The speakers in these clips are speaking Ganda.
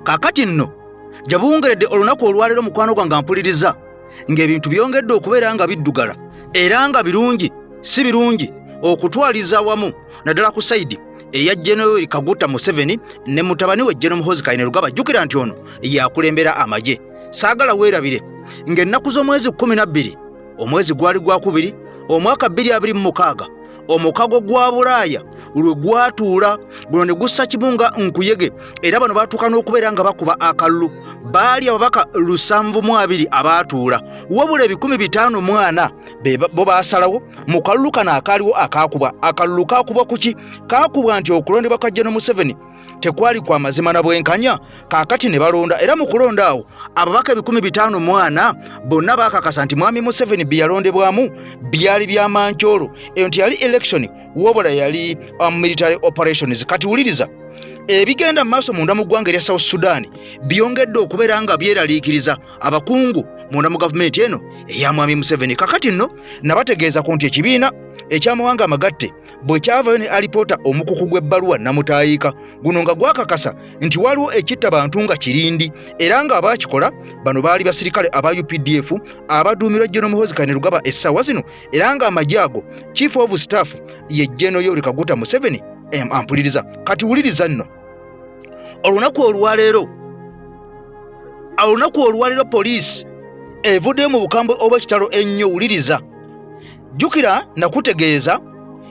kakati nno gye buwungeredde olunaku olwaleero mukwano gwange mpuliriza ng'ebintu byongedde okubeera nga biddugala era nga birungi si birungi okutwaliza awamu naddala ku saidi eya General Kaguta Museveni ne mutabani we General Muhoozi Kainerugaba jjukira nti ono yakulembera amagye saagala weerabire ng'ennaku z'omwezi kkumi na bbiri omwezi gwali gwakubiri omwaka bbiri abiri mu mukaaga omukago gwa bulaaya lwe gwatuula guno ne gussa kimu nga nkuyege era bano baatuuka n'okubeera nga bakuba akalulu baali ababaka lusanvu mu abiri abaatuula wabula ebikumi bitaano mwana bo baasalawo mu kalulu kano akaaliwo akaakubwa akalulu kaakubwa kuki kaakubwa nti okulondebwa kwa jeno museveni tekwali kwa mazima na bwenkanya kaakati ne balonda era mu kulonda awo ababaka ebikumi bitaano mwana bonna baakakasa nti mwami museveni bye yalondebwamu byali bya mancoolo eyo nti yali elekishoni wabula yali um, military operations kati wuliriza ebigenda mu maaso munda mu ggwanga erya south sudan byongedde okubeera nga byeraliikiriza abakungu munda mu gavumenti eno eya mwami museveni kakati nno nabategeeza ku nti ekibiina ekyamawanga amagatte bwe kyavayo ne alipoota omukuku gw'ebbaluwa namutaayiika guno nga gwakakasa nti waliwo ekitta bantu nga kirindi era nga abaakikola bano baali basirikale aba updf abaduumirwa jeno muhozi kanerugaba essaawa zino era nga amagye ago chief of staff ye jeno yoweri kaguta museveni ampuliriza kati wuliriza nno olunaku olwaleero olunaku olwaliro poliisi evuddeyo mu bukambwe obw'ekitalo ennyo wuliriza jjukira nakutegeeza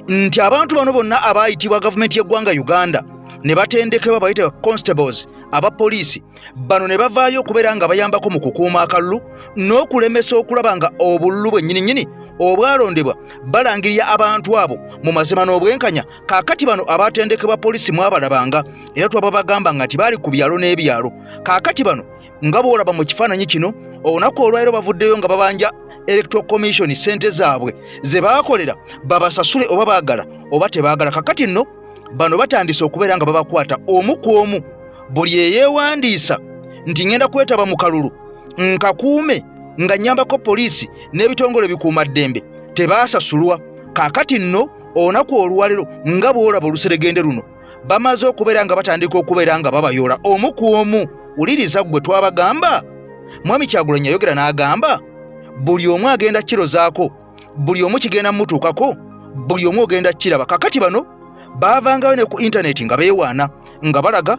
nti abantu bano bonna abaayitibwa gavumenti y'eggwanga uganda ne batendekebwa bayite constables aba poliisi bano ne bavaayo okubeera nga bayambako mu kukuuma akalulu n'okulemesa okulaba nga obululu bwennyininyini obwalondebwa balangirira abantu abo mu mazima n'obwenkanya kaakati bano abatendekebwa poliisi mwabalabanga era twababagamba nga nti baali ku byalo n'ebyalo kaakati bano nga boolaba mu kifaananyi kino olunaku olwaliro bavuddeyo nga babanja electoral commission ssente zaabwe ze baakolera babasasule oba baagala oba tebaagala kakati nno bano batandise okubeera nga babakwata omu ku omu buli eyeewandiisa nti ŋenda kwetaba mu kalulu nkakuume nga nnyambako poliisi n'ebitongole bikuuma ddembe tebaasasulwa kaakati nno olunaku olwaliro nga bwolaba oluseregende luno bamaze okubeera nga batandika okubeera nga babayoola omu ku omu wuliriza ggwe twabagamba mwami kyagulanyi yayogera n'agamba buli omu agenda kirozaako buli omu kigenda mumutuukako buli omu ogenda kiraba kakati bano baavangayo ne ku intaneti nga beewaana nga balaga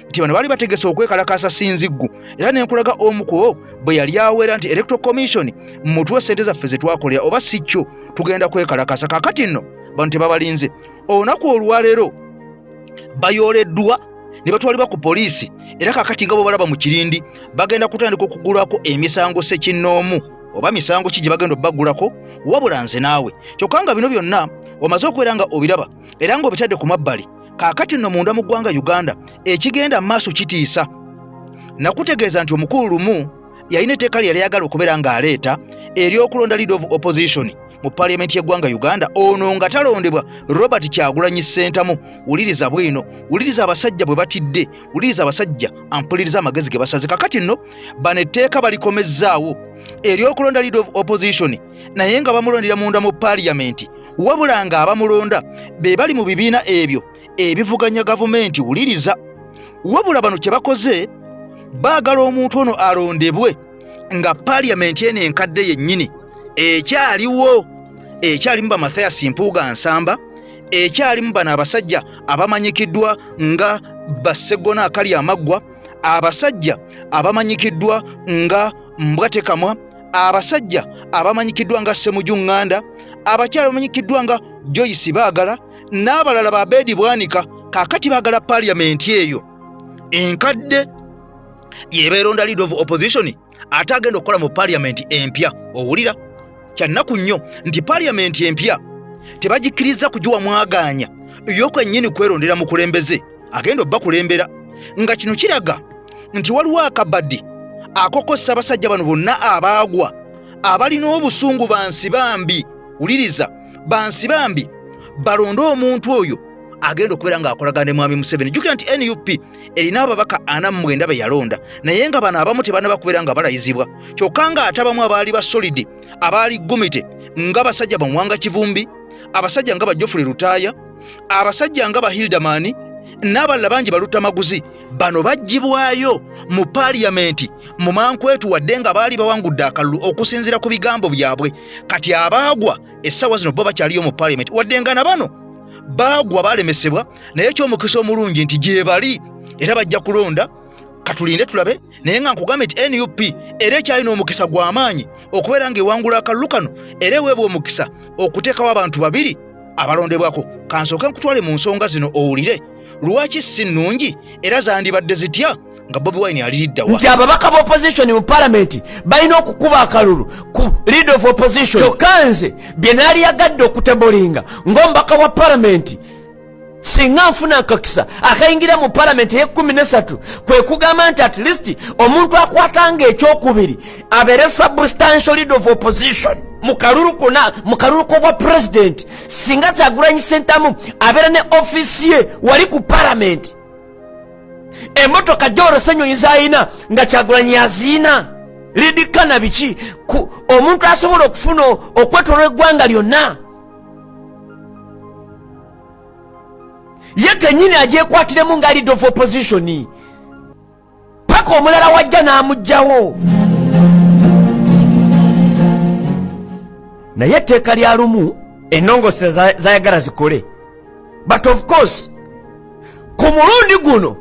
nti bano baali bategese okwekalakaasa sinziggu era ne nkulaga omu kubo bwe yali awera nti electoral commission mutuwe sente zaffe ze twakolera oba si kyo tugenda kwekalakaasa kakati nno bano tebabalinze olunaku olwaleero bayooleddwa ne batwalibwa ku poliisi era kakati nga bwe balaba mu kirindi bagenda kutandika okugulwako emisango sekinnoomu oba misango ki gye bagenda obbagulako wabula nze naawe kyokka nga bino byonna omaze okubeera nga obiraba era ng'obitadde ku mabbali kaakati nno munda mu ggwanga uganda ekigenda mu maaso kitiisa nakutegeeza nti omukulu lumu yalina etteeka lye yali ayagala okubeera ng'aleeta ery'okulonda lead of opposition mu paliyamenti y'eggwanga uganda ono nga talondebwa robert kyagulanyi ssentamu wuliriza bwino wuliriza abasajja bwe batidde wuliriza abasajja ampuliriza amagezi ge basaze kakati nno bano etteeka balikomezzaawo ery'okulonda lead of opposition naye nga bamulondera munda mu paaliyamenti wabula nga abamulonda be bali mu bibiina ebyo ebivuganya gavumenti wuliriza wabula bano kye bakoze baagala omuntu ono alondebwe nga paaliyamenti eno enkadde yennyini ekyaliwo ekyalimu ba mathayas mpuuga nsamba ekyalimu bano abasajja abamanyikiddwa nga bassegona akali amaggwa abasajja abamanyikiddwa nga mbwatekamwa abasajja abamanyikiddwa nga semuju ŋŋanda abakyala bamanyikiddwa nga joyce baagala n'abalala ba beedi bwanika kaakati baagala paaliyamenti eyo enkadde yebeeronda lead of opposition ate agenda okukola mu paaliyamenti empya owulira kyannaku nnyo nti paaliyamenti empya tebagikkiriza kugiwa mwagaanya yo kwennyini kwerondera mukulembeze agenda obakulembera nga kino kiraga nti waliwo akabadi akokosa abasajja bano bonna abaagwa abalina obusungu bansi bambi wuliriza bansi bambi balonde omuntu oyo agenda okubeera ng'akolagana ne mwami museveni jukira nti nup erina ababaka ana mumwenda be yalonda naye nga bano abamu tebanaba kubeera nga balayizibwa kyokka ng'ate abamu abaali basolidi abaali gumite nga basajja bamuwanga kivumbi abasajja nga bajofule lutaaya abasajja nga bahildamani n'abalala bangi balutta maguzi bano baggyibwayo mu paaliyamenti mu mankwetu wadde nga baali bawangudde akalulu okusinziira ku bigambo byabwe kati abaagwa essaawa zino bo bakyaliyo mu paaliyamenti wadde nga na bano baagwa balemesebwa naye ekyomukisa omulungi nti gyebali era bajja kulonda katulinde tulabe naye nga nkugambye nti nup era ekyalina omukisa gw'amaanyi okubeera ng'ewangula akalulu kano era eweebwa omukisa okuteekawo abantu babiri abalondebwako kansooke nkutwale mu nsonga zino owulire lwaki si nnungi era zandibadde zitya nga bobi wine aliriddawa nti ababaka ba opposition mu palamenti balina okukuba akalulu ku lead of opposition kyokka nze bye naali yagadde okutebolinga ng'omubaka wa palamenti singa nfuna akakisa akayingira mu palamenti eyekumi nesatu kwe kugamba nti at least omuntu akwatanga ekyokubiri abeere substantial lead of opposition mu kalulu kona mu kalulu kobwa pulezidenti singa kyagulanyi sentamu abeera ne ofisi ye wali ku palamenti emotoka gyolose enyonyi zayina nga kyagulanyi yaziina lidikana biki omuntu asobola okufuna okwetolwa eggwanga lyonna ye kenyini agyekwatiremu nga lead of opposition paka omulala wajja n'amugjawo naye etteeka lya lumu enongoose zayagala zikole but of course ku mulundi guno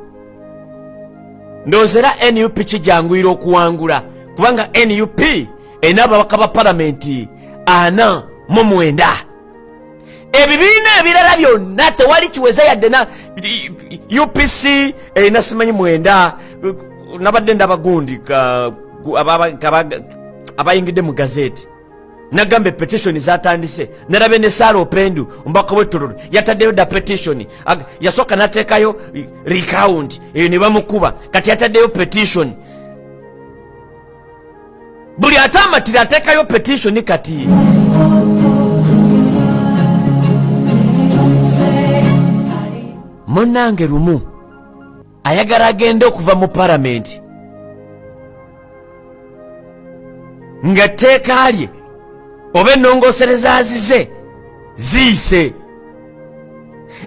ndowozera nup kijanguyira okuwangula kubanga nup erina ababaka ba palamenti ana mu mwenda ebibiina ebirala byonna tewali kiweza yadde na upc erina simanyi mwenda nabadde ndabagundi abayingidde mu gazeti nagamba epetitioni zatandise nerabe ne saara opendu omubaka wetululu yataddeyo da petitioni yasooka nateekayo recount eyo ne bamukuba kati yataddeyo petitioni buli atamatira atekayo petition kati munange lumu ayagala agende okuva mu paramenti nga etteeka lye oba ennongosereza azize ziyise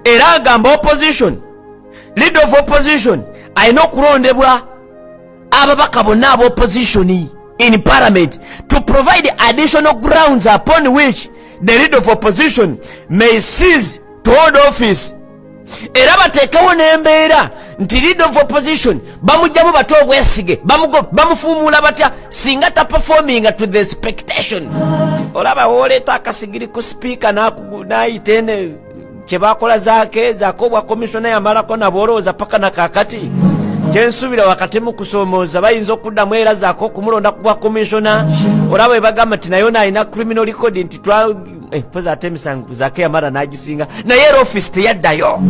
era agamba opposition lead of opposition alina okulondebwa ababaka bonna aba opposition in parliament to provide additional grounds upon which the lead of opposition may seize to hold office era bateekewo n'embeera nti lead of opposition bamugjamu bate obwesige bamufuumuula batya singa taperforminga to the expectation olaba woleeta akasigiri ku sipiika n'ayita ene kyebakola zake zake obwa komisona yamalako nabo olowooza paka na kakati kyensuubira wakati mu kusoomooza bayinza okuddamu era zake okumulonda ku bwa komisona olaba webagamba nti naye ono alina criminal record nti eh, poza ate emisango zake yamala nagisinga naye era office teyaddayo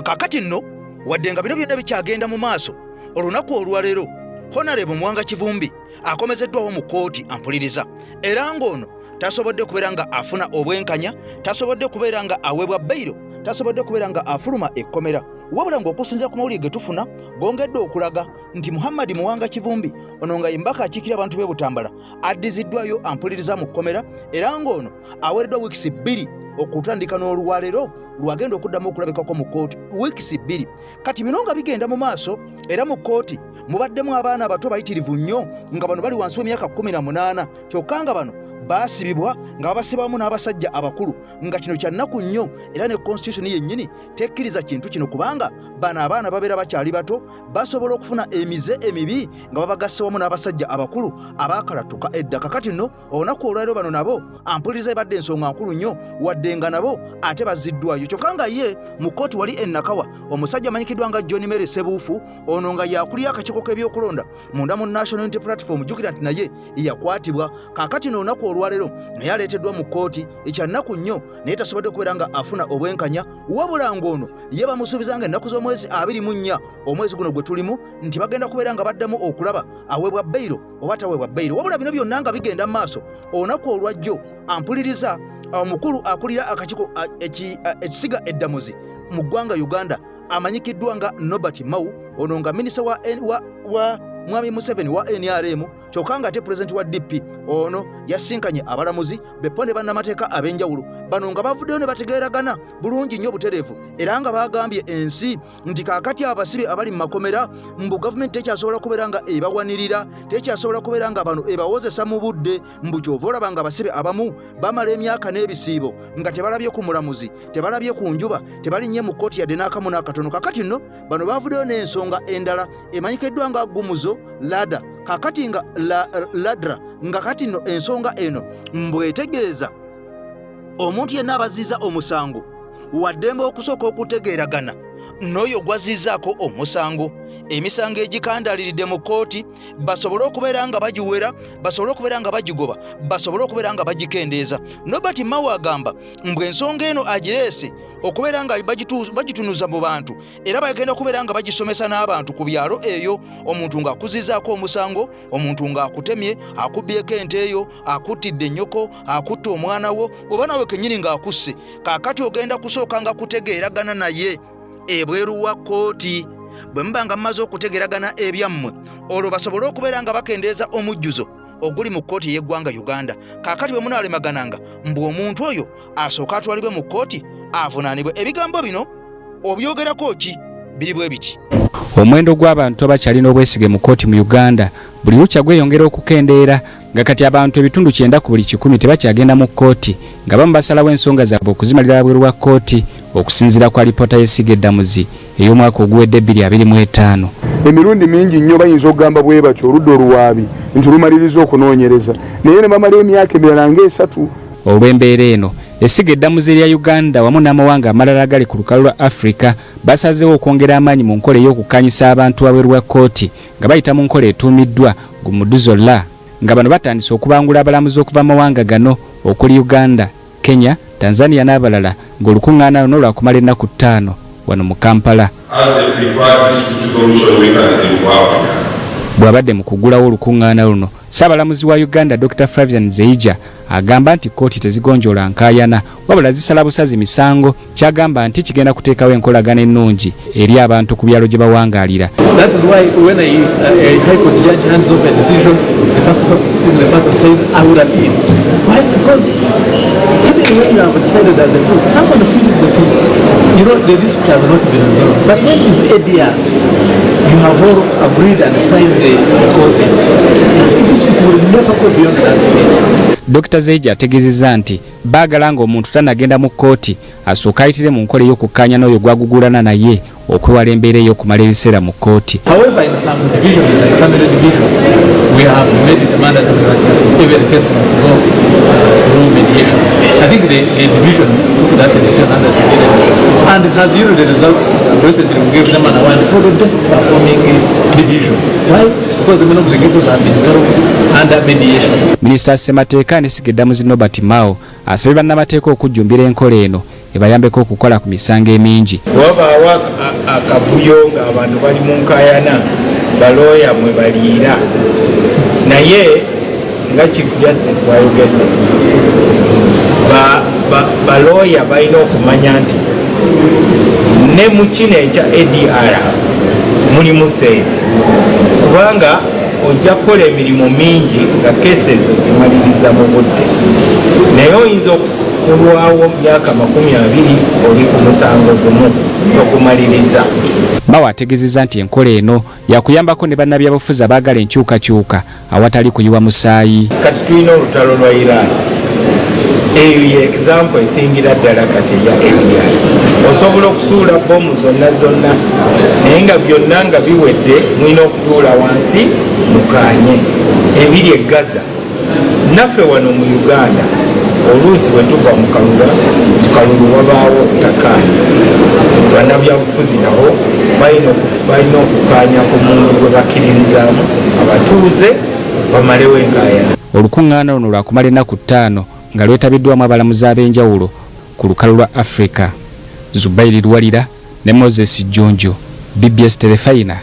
kakati nno wadde nga bino byonna bikyagenda mu maaso olunaku olwaleero honarebo mwanga kivumbi akomezeddwawo mu kkooti ampuliriza era ng'ono tasobodde kubeera nga afuna obwenkanya tasobodde kubeera nga aweebwa beyiro tasobodde kubeera nga afuluma ekkomera wabula ng'okusinzira ku mawulire ge tufuna gongedde okulaga nti muhammadi muwanga kivumbi ono nga yembaka akiikira abantu b'e butambala addiziddwayo ampuliriza mu kkomera era ng'ono aweereddwa wiikisi bbiri okutandika n'olwaleero lwagenda okuddamu okulabikako mu kkooti wiikisi bbiri kati bino nga bigenda mu maaso era mu kkooti mubaddemu abaana abato bayitirivu nnyo nga bano bali wansi w'emyaka 18 kyokka nga bano baasibibwa nga babasibamu n'abasajja abakulu nga kino kya nnaku nnyo era ne konstitusoni yennyini tekkiriza kintu kino kubanga bano abaana babeera bakyali bato basobola okufuna emize emibi nga babagasse wamu n'abasajja abakulu abaakalatuka edda kakati nno olunaku olwaliro bano nabo ampuliriza ebadde ensonga nkulu nnyo wadde nga nabo ate baziddwayo kyokka nga ye mu kkooti wali enakawa omusajja amanyikiddwa nga john mary sebuufu ono nga yakulira akakiiko k'ebyokulonda munda mu national unity platform jukira nti naye yakwatibwa kakati n'olunaku olwaliro naye aleeteddwa mu kkooti ekyannaku nnyo naye tasobodde okubeera nga afuna obwenkanya wabula ng'ono ye bamusuubiza nga ennaku z'omwezi abiri mu nnya omwezi guno gwe tulimu nti bagenda kubeera nga baddamu okulaba aweebwa beyiro oba taweebwa beyiro wabula bino byonna nga bigenda mu maaso olunaku olwajjo ampuliriza omukulu akulira akakiiko ekisiga eddamuzi mu ggwanga uganda amanyikiddwa nga nobert mau ono nga minisita wa, wa, wa mwami museveni wa nrm kyokka nga ate pulezidenti wa dp ono yasinkanye abalamuzi bepo ne bannamateeka ab'enjawulo bano nga bavuddeyo ne bategeeragana bulungi nnyo butereevu era nga baagambye ensi nti kaakati abasibe abali mu makomera mbu gavumenti tekyasobola kubeera nga ebawanirira tekyasobola kubeera nga bano ebawozesa mu budde mbu kyova olaba nga abasibe abamu bamala emyaka n'ebisiibo nga tebalabye ku mulamuzi tebalabye ku njuba tebalinnye mu kkooti yadde n'akamu n'akatono kakati nno bano bavuddeyo n'ensonga endala emanyikiddwa nga gumuzo lada kakati nga la, ladra nga kati nno ensonga eno mbwetegeeza omuntu yenna abaziiza omusango waddembe okusooka okutegeeragana n'oyo gwazzizaako omusango emisango egikandaaliridde mu kkooti basobole okubeera nga bagiwera basobole okubeera nga bagigoba basobole okubeera nga bagikendeeza nobert mawe agamba mbwe ensonga eno agireese okubeera nga bagitunuza mu bantu era bagenda okubeera nga bagisomesa n'abantu ku byalo eyo omuntu ng'akuzizaako omusango omuntu ng'akutemye akubbyeko ente eyo akuttidde ennyoko akutta omwana wo oba nawe kennyini ng'akusse kaakati ogenda kusooka nga kutegeeragana naye ebweru wa kkooti bwe muba nga mumaze okutegeragana ebyammwe olwo basobole okubeera nga bakendeeza omujjuzo oguli mu kkooti ey'eggwanga uganda kaakati bwe munaalemegananga mbu omuntu oyo asooke atwalibwe mu kkooti avunaanibwe ebigambo bino obyogerako ki biri bwe biki omuwendo gw'abantu abakyalina obwesige mu kkooti mu uganda buli lukya gweyongera okukendeera nga kati abantu ebitundu kyenda ku buli kikumi tebakyagenda mu kkooti nga bamu basalawo ensonga zaabwe okuzimalira wabweru wa kkooti okusinziira kwa lipoota y'essiga eddamuzi ey'omwaka oguwedde 225 emirundi mingi nnyo bayinza okugamba bwe batyo oludda oluwaabi nti lumaliriza okunoonyereza naye ne bamala emyaka emirala ng'esatu Olw'embeera eno, essiga eddamuzi erya Uganda wamu n'amawanga amalala agali ku lukalu lwa Africa basazeewo okwongera amaanyi mu nkola ey'okukkaanyisa abantu wabweru wa kkooti nga bayita mu nkola etuumiddwa Gumuduzo Law nga bano batandise okubangula abalamuzi okuva mu mawanga gano okuli Uganda, Kenya, Tanzania n'abalala ng'olukung'aana luno lwakumala ennaku ttaano wano mu Kampala. Bw'abadde mu kuggulawo olukung'aana luno, Ssaabalamuzi wa Uganda Dokita Flavian Zeija agamba nti kkooti tezigonjoola nkaayana wabula zisala busazi misango kyagamba nti kigenda kuteekawo enkolagana ennungi eri abantu ku byalo gye bawangaalira You know, the dispute has not been resolved. But when is ADR? You have all agreed and signed the closing. This will never go beyond that stage. Dr Zeija ategeezezza nti baagala ng'omuntu tanagenda mu kkooti asooka ayitire mu nkola ey'okukkaanya n'oyo gwagugulana naye okwewala embeera ey'okumala ebiseera mu kkooti And has yielded results President will give them an award for the best performing division. Why? Because many of the cases have been settled under mediation. Minister Semateeka ne Sigedamuzi Nobert Mao asabye bannamateeka okujjumbira enkola eno ebayambeko okukola ku misango emingi. Wabaawo akavuyo ng'abantu bali mu nkayana balooya mwe baliira naye nga chief justice bwayogedde balooya ba, ba balina okumanya nti ne mu kino ekya adr mulimu sente kubanga ojja kukola emirimu mingi nga kesi ezo zimaliriza mu budde naye oyinza okulwawo myaka makumi abiri oli ku musango gumu okumaliriza bawo ategezeza nti enkola eno yakuyambako ne bannabyabufuzi abaagala enkyukakyuka awatali kuyiwa musaayi. Kati tulina olutalo lwa Iran. Eyo ye egizampo esingira ddala kati eya India. Osobola okusuula bbomu zonna zonna, naye nga byonna nga biwedde, mulina okutuula wansi mukaanye. Ebiri e Gaza. naffe wano mu uganda oluusi bwe tuva mu kalulu mu kalulu wabaawo okutakaanya bannabyabufuzi nabo balina okukaanya ku muntu gwe bakkiririzaamu abatuuze bamalewo enkayana olukuŋŋaana luno lwakumala ennaku ttaano nga lwetabiddwamu abalamuzi ab'enjawulo ku lukalu lwa afrika zubairi luwalira ne moses jjunju bbs terefayina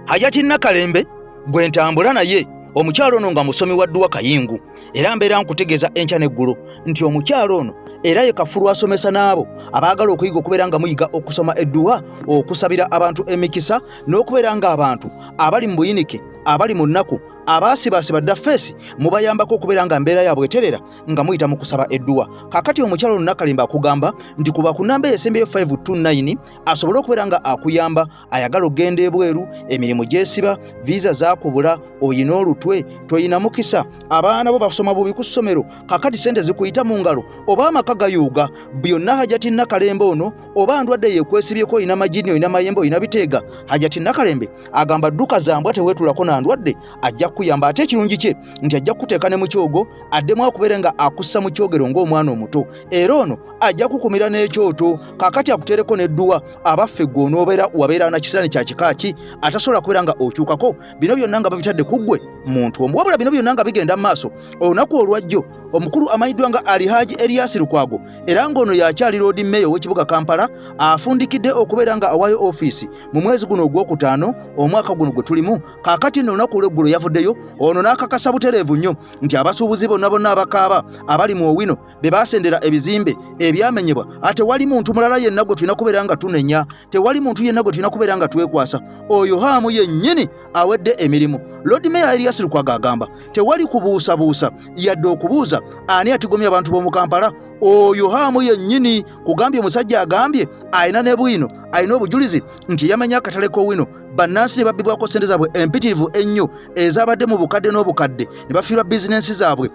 hajati nakalembe gwe ntambula naye omukyalo ono nga musomi wa dduwa kayingu era mbeera nkutegeeza enkya n'eggulu nti omukyalo ono era ye kafulu asomesa n'abo abaagala okuyiga okubeera nga muyiga okusoma edduwa okusabira abantu emikisa n'okubeera ng'abantu abali mu buyinike abali mu nnaku abaasibaasiba dda feesi mubayambako okubeera nga mbeera yaabwe eterera nga muyita mu kusaba edduwa kaakati omukyalo ono nakalimba akugamba nti kuba ku namba eyo esembeyo 529 asobole okubeera nga akuyamba ayagala okugenda ebweru emirimu gyesiba viisa zakubula oyina olutwe toyina mukisa abaana bo basoma bubi ku ssomero kakati sente zikuyita mu ngalo oba amaka gayuuga byonna hajati nakalembe ono oba ndwadde yekwesibyeko oyina majini oyina mayembe oyina biteega hajati nakalembe agamba dduka zambwa tewetulako na ndwadde ajja kukuyamba ate ekirungi kye nti ajja kukuteeka ne mu kyogo addemu akubeere nga akussa mu kyogero ng'omwana omuto era ono ajja kukumira n'ekyoto kakati akutereko n'edduwa abaffe gwe onoobeera wabeera na kisirani kya kika ki atasobola kubeera nga okyukako bino byonna nga babitadde ku ggwe muntu omu wabula bino byonna nga bigenda mu maaso olunaku olwajjo omukulu amanyiddwa nga alihaji eriyasi lukwago era ng'ono yakyali loodi meeya ow'ekibuga kampala afundikidde okubeera nga awaayo ofiisi mu mwezi guno ogwokutaano omwaka guno gwe tulimu kakati nno olunaku olweggulo yavuddeyo ono n'akakasa butereevu nnyo nti abasuubuzi bonna bonna abakaaba abali mu owino be baasendera ebizimbe ebyamenyebwa ate wali muntu mulala yenna gwe tulina kubeera nga tunenya tewali muntu yenna gwe tulina kubeera nga twekwasa oyo haamu yennyini awedde emirimu lodi meya erias lukwaga agamba tewali kubuusabuusa yadde okubuuza ani atigomya abantu b'omu kampala oyo haamu yennyini kugambye omusajja agambye alina ne bwino alina obujulizi nti yamenya akatale k'owino bannansi ne babbibwako ssente zaabwe empitirivu ennyo ezabadde mu bukadde n'obukadde ne bafiirwa bizinensi zaabwe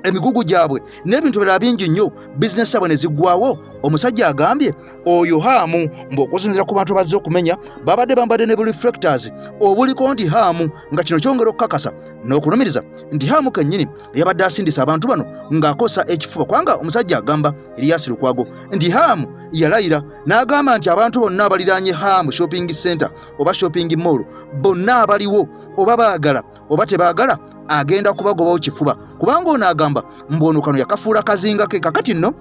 emigugu gyabwe n'ebintu birala bingi nnyo bizinesi abwe ne ziggwawo omusajja agambye oyo haamu ng'okusinzira ku bantu bazze okumenya babadde bambadde ne buliflectors obuliko nti haamu nga kino kyongera okukakasa n'okulumiriza nti haamu kennyini yabadde asindisa abantu bano ng'akosa ekifuba kubanga omusajja agamba eriyasi lukwago nti haamu yalayira n'agamba nti abantu bonna abaliraanye haamu shopping center oba shopping mall bonna abaliwo oba baagala oba tebaagala agenda kubagobawo kifuba kubanga ono agamba mbu ono kano yakafuula kazinga ke kakati nno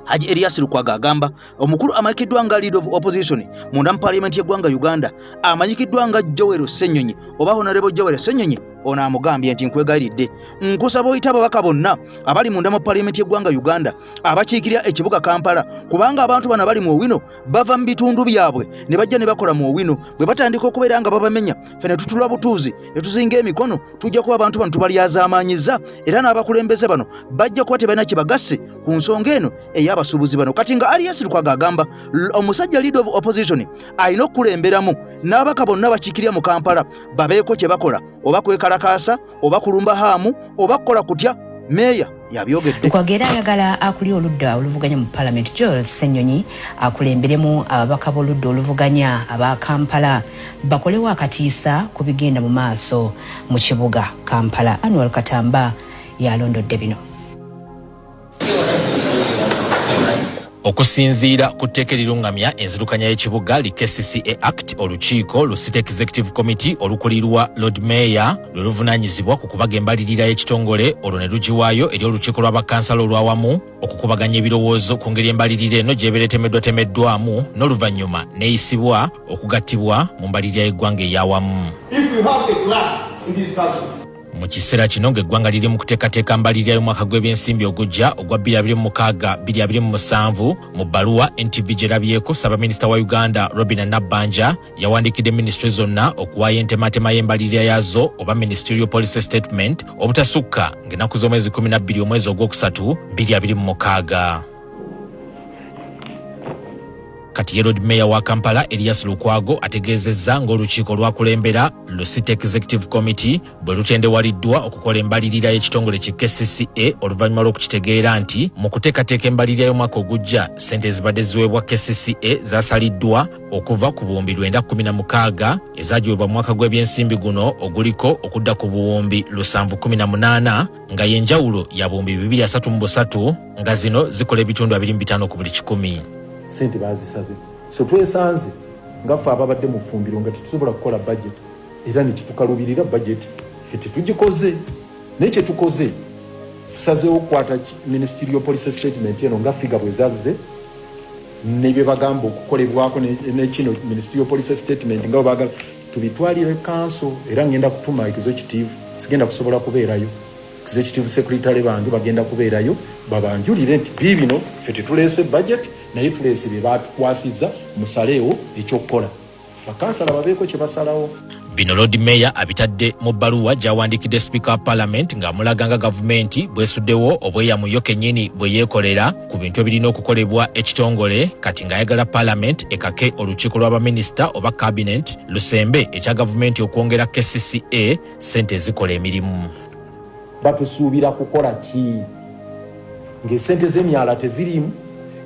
haji elias lukwaga agamba omukulu amanyikiddwa nga lead of opposition munda mu parliament yeggwanga uganda amanyikiddwa nga jowero senyonyi oba honorable jowero senyonyi ono amugambye nti nkwegayiridde nkusaba oyita ababaka bonna abali munda mu parliament yeggwanga uganda abakiikirira ekibuga kampala kubanga abantu bano abali mu owino bava mu bitundu byabwe ne bajja ne bakola mu owino bwe batandika okubeera nga babamenya ffe ne tutula butuuzi ne tuzinga emikono tujja kuba abantu bano tubalyazaamaanyizza era n'abakulembeze bano bajja kuba tebalina kye bagasse ku nsonga eno ey'abasuubuzi bano kati nga arias lukwaga agamba omusajja lead of opposition alina okukulemberamu n'abaka bonna bakiikirira mu kampala babeeko kye bakola oba kwekalakaasa oba kulumba haamu oba kukola kutya meeya yabyogedde kwagera ayagala akuli oludda oluvuganya mu palamenti george senyonyi akulemberemu ababaka b'oludda oluvuganya aba kampala bakolewo akatiisa ku bigenda mu maaso mu kibuga kampala anual katamba yalondodde bino okusinziira ku tteeka erirungamya enzirukanya y'ekibuga li kcca act olukiiko lu city executive committee olukulirwa lord mayor lwe luvunanyizibwa ku kubaga embalirira y'ekitongole olwo ne lugiwaayo eri olukiiko lwa bakansala olwawamu okukubaganya ebirowoozo ku ngeri embalirira eno gy'ebeera etemeddwatemeddwamu n'oluvannyuma neeyisibwa okugattibwa mu mbalirira y'eggwanga eyawamu mu kiseera kino ng'eggwanga liri mu kuteekateeka mbalirira y'omwaka gw'ebyensimbi ogujja ogwa 2026-2027 mu bbaluwa ntv gyerabyeko ssaabaminisita wa uganda robina nabbanja yawandiikidde minisitule zonna okuwaayo entematema y'embalirira yaazo oba ministerial policy statement obutasukka ng'ennaku z'omwezi 12 omwezi ogwokusatu 2026 Kati ye Lord Mayor wa Kampala Elias Lukwago ategeezezza ng'olukiiko lwakulembera lu City Executive Committee bwe lutendewaliddwa okukola embalirira y'ekitongole ki KCCA oluvannyuma lw'okukitegeera nti mu kuteekateeka embalirira y'omwaka ogujja ssente ezibadde ziweebwa KCCA zasaliddwa okuva ku buwumbi lwenda kumi na mukaaga ezagiweebwa mu mwaka gw'ebyensimbi guno oguliko okudda ku buwumbi lusanvu kumi na munaana nga yenjawulo ya buwumbi bibiri asatu mu busatu nga zino zikola ebitundu abiri mu bitaano ku buli kikumi sente bazisaze so twesanze nga ffe ababadde mu ffumbiro nga tetusobola kukola budget era nekitukalubirira budget fe tetugikoze naye kyetukoze tusazeewo okukwata ministerial policy statement eno nga figa bwezazize nebyebagamba okukolebwako nekino ministerial policy statement nga webagala tubitwalire kanso era ngenda kutuma executive sigenda kusobola kubeerayo executive secretary bange bagenda kubeerayo babanjulire nti biibino fe tetuleese budget naye tuleese bye batukwasizza musaleewo ekyokukola bakansala babeeko kye basalawo bino lord mayor abitadde mu bbaluwa gy'awandiikidde sipiika wa palamenti ng'amulaga nga gavumenti bwesuddewo obweyamuyo kennyini bwe yeekolera ku bintu ebirina okukolebwa ekitongole kati ng'ayagala palamenti ekake olukiiko lwa baminisita oba kabinet lusembe ekya gavumenti okwongera kcca sente ezikola emirimu batusuubira kukola ki ng'esente z'emyala teziriimu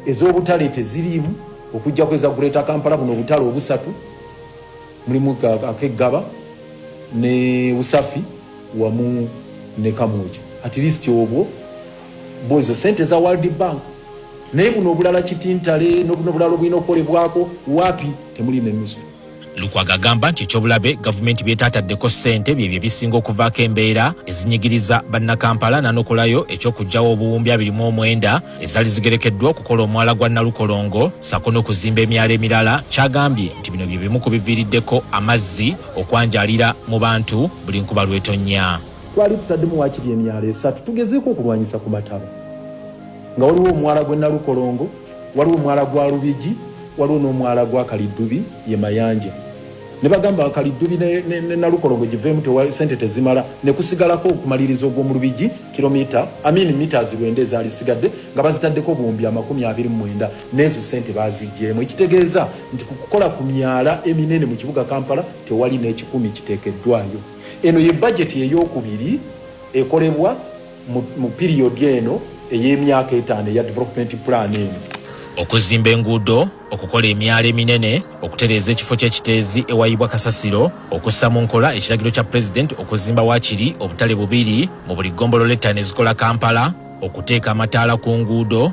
ez'obutale teziriimu okujjako eza greater kampala buno obutale obusatu mulimu akeggaba ne usafi wamu ne kamuja at least obwo Mbu ezo sente za world bank naye buno obulala kitintale nobuno bulala obulina okukolebwako wapi temuli nenusu lukwaga agamba nti ekyobulabe gavumenti byetataddeko ssente byebyo ebisinga okuvaako embeera ezinyigiriza bannakampala nanokolayo ekyokugjawo obuwumbi 29 ezali zigerekeddwa okukola omwala gwa nalukolongo sako nokuzimba emyalo emirala kyagambye nti bino byebimu ku biviiriddeko amazzi okwanjaalira mu bantu buli nkuba lwetonnya Twali tutaddemu waakiri emyalo esatu tugezeeko okulwanyisa ku mataba nga waliwo omwala gw'e Nalukolongo, waliwo omwala gwa Lubigi, waliwo n'omwala gwa Kaliddubi ye Mayanja ne bagamba Kaliddubi ne, ne, ne Nalukolongo giveemu tewa sente tezimala ne kusigalako okumaliriza ogw'omu Lubigi kilomita amini mitas lwenda ezaali sigadde nga bazitaddeko obuwumbi amakumi abiri mu mwenda n'ezo sente baaziggyemu ekitegeeza nti ku kukola ku myala eminene mu kibuga Kampala tewali n'ekikumi kiteekeddwayo. Eno ye bajeti ey'okubiri ekolebwa mu piriyodi eno ey'emyaka etaano eya Development Plan eno. Okuzimba enguudo, okukola emyala eminene, okutereeza ekifo ky'ekiteezi ewayibwa kasasiro, okussa mu nkola ekiragiro kya Pulezidenti okuzimba waakiri obutale bubiri mu buli ggombolola ettaano ezikola Kampala, okuteeka amataala ku nguudo,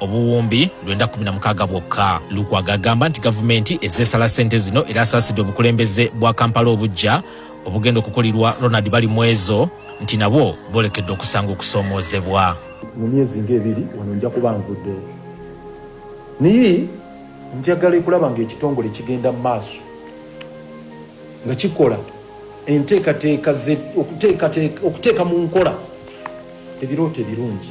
obuwumbi lwenda kumi na mukaaga bwokka. Lukwago agamba nti gavumenti ezze esala ssente zino era asaasidde obukulembeze bwa Kampala obuggya obugenda okukulirwa Ronald Balimwezo nti nabwo bwolekedde okusanga okusoomoozebwa. Mu myezi ng'ebiri wano nja kuba nvuddewo naye njagala ekulaba ng'ekitongole kigenda mu maaso nga kikola enteekateeka okuteeka mu nkola ebirooto ebirungi.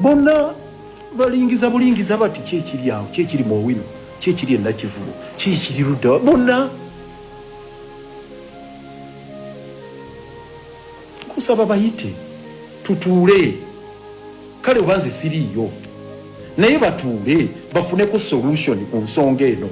bonna balingiza bulingiza bati kyekiri awo kyekiri mu owino kyekiri enakivubo kyekiri ludda bonna kusaba bayite tutuule kale oba nze siriiyo naye batuule bafuneko solution ku nsonga eno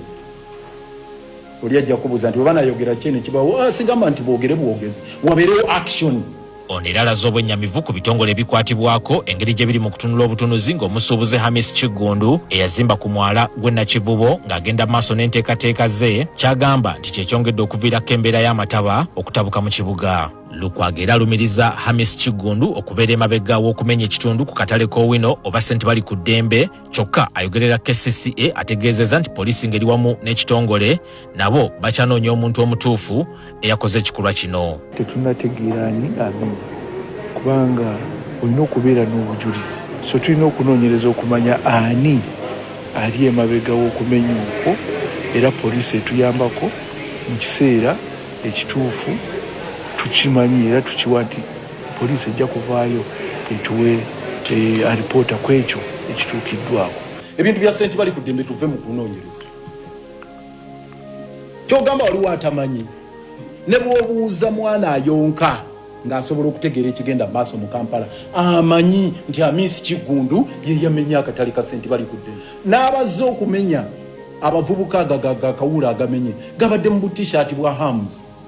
oli ajja kubuuza nti oba nayogera kyene kibawo ah, sigamba nti bwogere bwogezi wabeerewo action Ono era alaze obwennyamivu ku bitongole ebikwatibwako engeri gye biri mu kutunula obutunuzi ng'omusuubuzi Hamis Kiggundu eyazimba ku mwala gw'e Nakivubo ng'agenda maaso n'enteekateeka ze ky'agamba nti kye kyongedde okuviirako embeera y'amataba okutabuka mu kibuga. Lukwago era alumiriza Hamis Kiggundu okubeera emabega w'okumenya ekitundu ku katale k'Owino oba ssente bali ku ddembe kyokka ayogerera kcca ategeezeza nti poliisi ngeri wamu n'ekitongole nabo bakyanoonya omuntu omutuufu eyakoze ekikolwa kino tetunategeerani amini kubanga olina okubeera n'obujulizi so tulina okunoonyereza okumanya ani ali emabega w'okumenya okwo era poliisi etuyambako mu kiseera ekituufu tukimanyi era tukiwa nti Poliisi ejja kuvaayo etuwe eh, alipoota ku ekyo ekituukiddwako. Ebintu bya senti bali ku ddembe tuve mu kunoonyereza. Kyogamba waliwo atamanyi ne bw'obuuza mwana ayonka ng'asobola okutegeera ekigenda mu maaso mu kampala amanyi nti amiisi kiggundu ye yamenya akatale ka senti bali kudde n'abazze okumenya abavubuka agagakawuula agamenye gabadde mu butishaati bwa hamuzi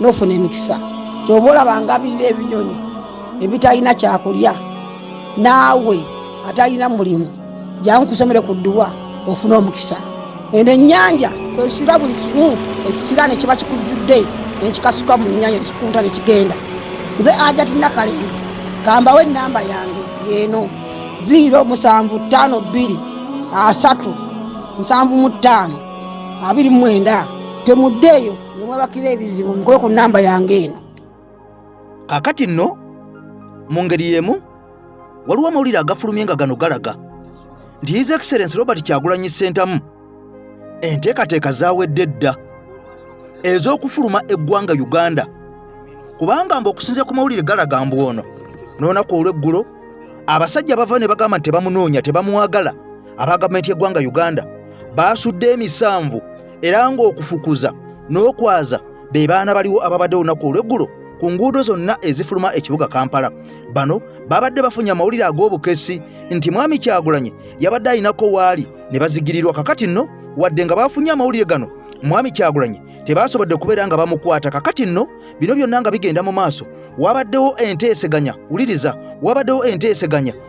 nofuna emikisa kyoba olaba ngabirira ebinyonyi ebitalina kyakulya naawe atalina mulimu jangu kusomere ku dduwa ofuna omukisa eno ennyanja kwesula buli kimu ekisira nekiba kikujjudde nekikasuka mu nyanja nekikunta nekigenda nze ajati nakalembe kambawo enamba yange yeno 0 musanvu ttaano bbiri asatu nsanvu mu ttaano abiri mu mwenda temuddeeyo ne mwebakira ebizibu mukole ku namba yange eno kakati nno mu ngeri y'emu waliwo amawulire agafulumye nga gano galaga nti his excellence robert kyagulanyi ssentamu enteekateeka zawedde dda ez'okufuluma eggwanga uganda kubanga mbu okusinzira ku mawulire galaga mbu ono n'olunaku olw'eggulo abasajja bava ne bagamba nti tebamunoonya tebamwagala aba gavumenti y'eggwanga uganda baasudde emisanvu era ng'okufukuza n'okwaza be baana baliwo ababadde olunaku olw'eggulo ku nguudo zonna ezifuluma ekibuga kampala bano babadde bafunye amawulire ag'obukesi nti mwami kyagulanyi yabadde alinako waali ne bazigirirwa kakati nno wadde nga baafunye amawulire gano mwami kyagulanyi tebaasobodde kubeera nga bamukwata kakati nno bino byonna nga bigenda mu maaso wabaddewo enteeseganya wuliriza wabaddewo enteeseganya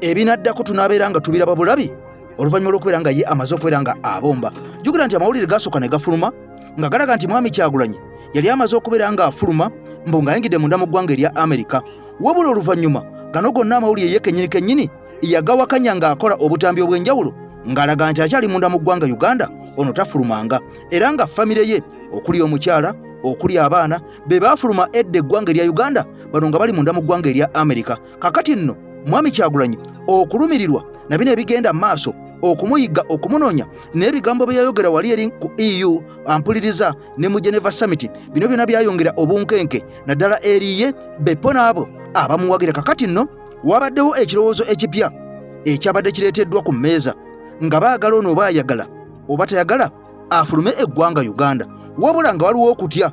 ebinaddako tunaabeera nga tubiraba bulabi oluvannyuma lw'okubeera nga ye amaze okubeera nga abomba jukira nti amawulire gaasooka ne gafuluma nga galaga nti mwami kyagulanyi yali amaze okubeera nga afuluma mbu ng'ayingidde munda mu ggwanga erya amerika wabula oluvannyuma gano gonna amawulire ye kennyini kennyini yagawakanya ng'akola obutambi obw'enjawulo ng'alaga nti akyali munda mu ggwanga uganda ono tafulumanga era nga famire ye okuli omukyala okuli abaana be baafuluma edda eggwanga erya uganda bano nga bali munda mu ggwanga erya amerika kakati nno mwami kyagulanyi okulumirirwa na bino ebigenda mu maaso okumuyigga okumunoonya n'ebigambo bye yayogera wali eri ku eu ampuliriza ne mu geneva summit bino byona byayongera obunkenke naddala eriye bepo n'abo abamuwagira kakati nno wabaddewo ekirowoozo ekipya ekyabadde kireeteddwa ku mmeeza nga baagala ono oba ayagala oba tayagala afulume eggwanga uganda wabula nga waliwo okutya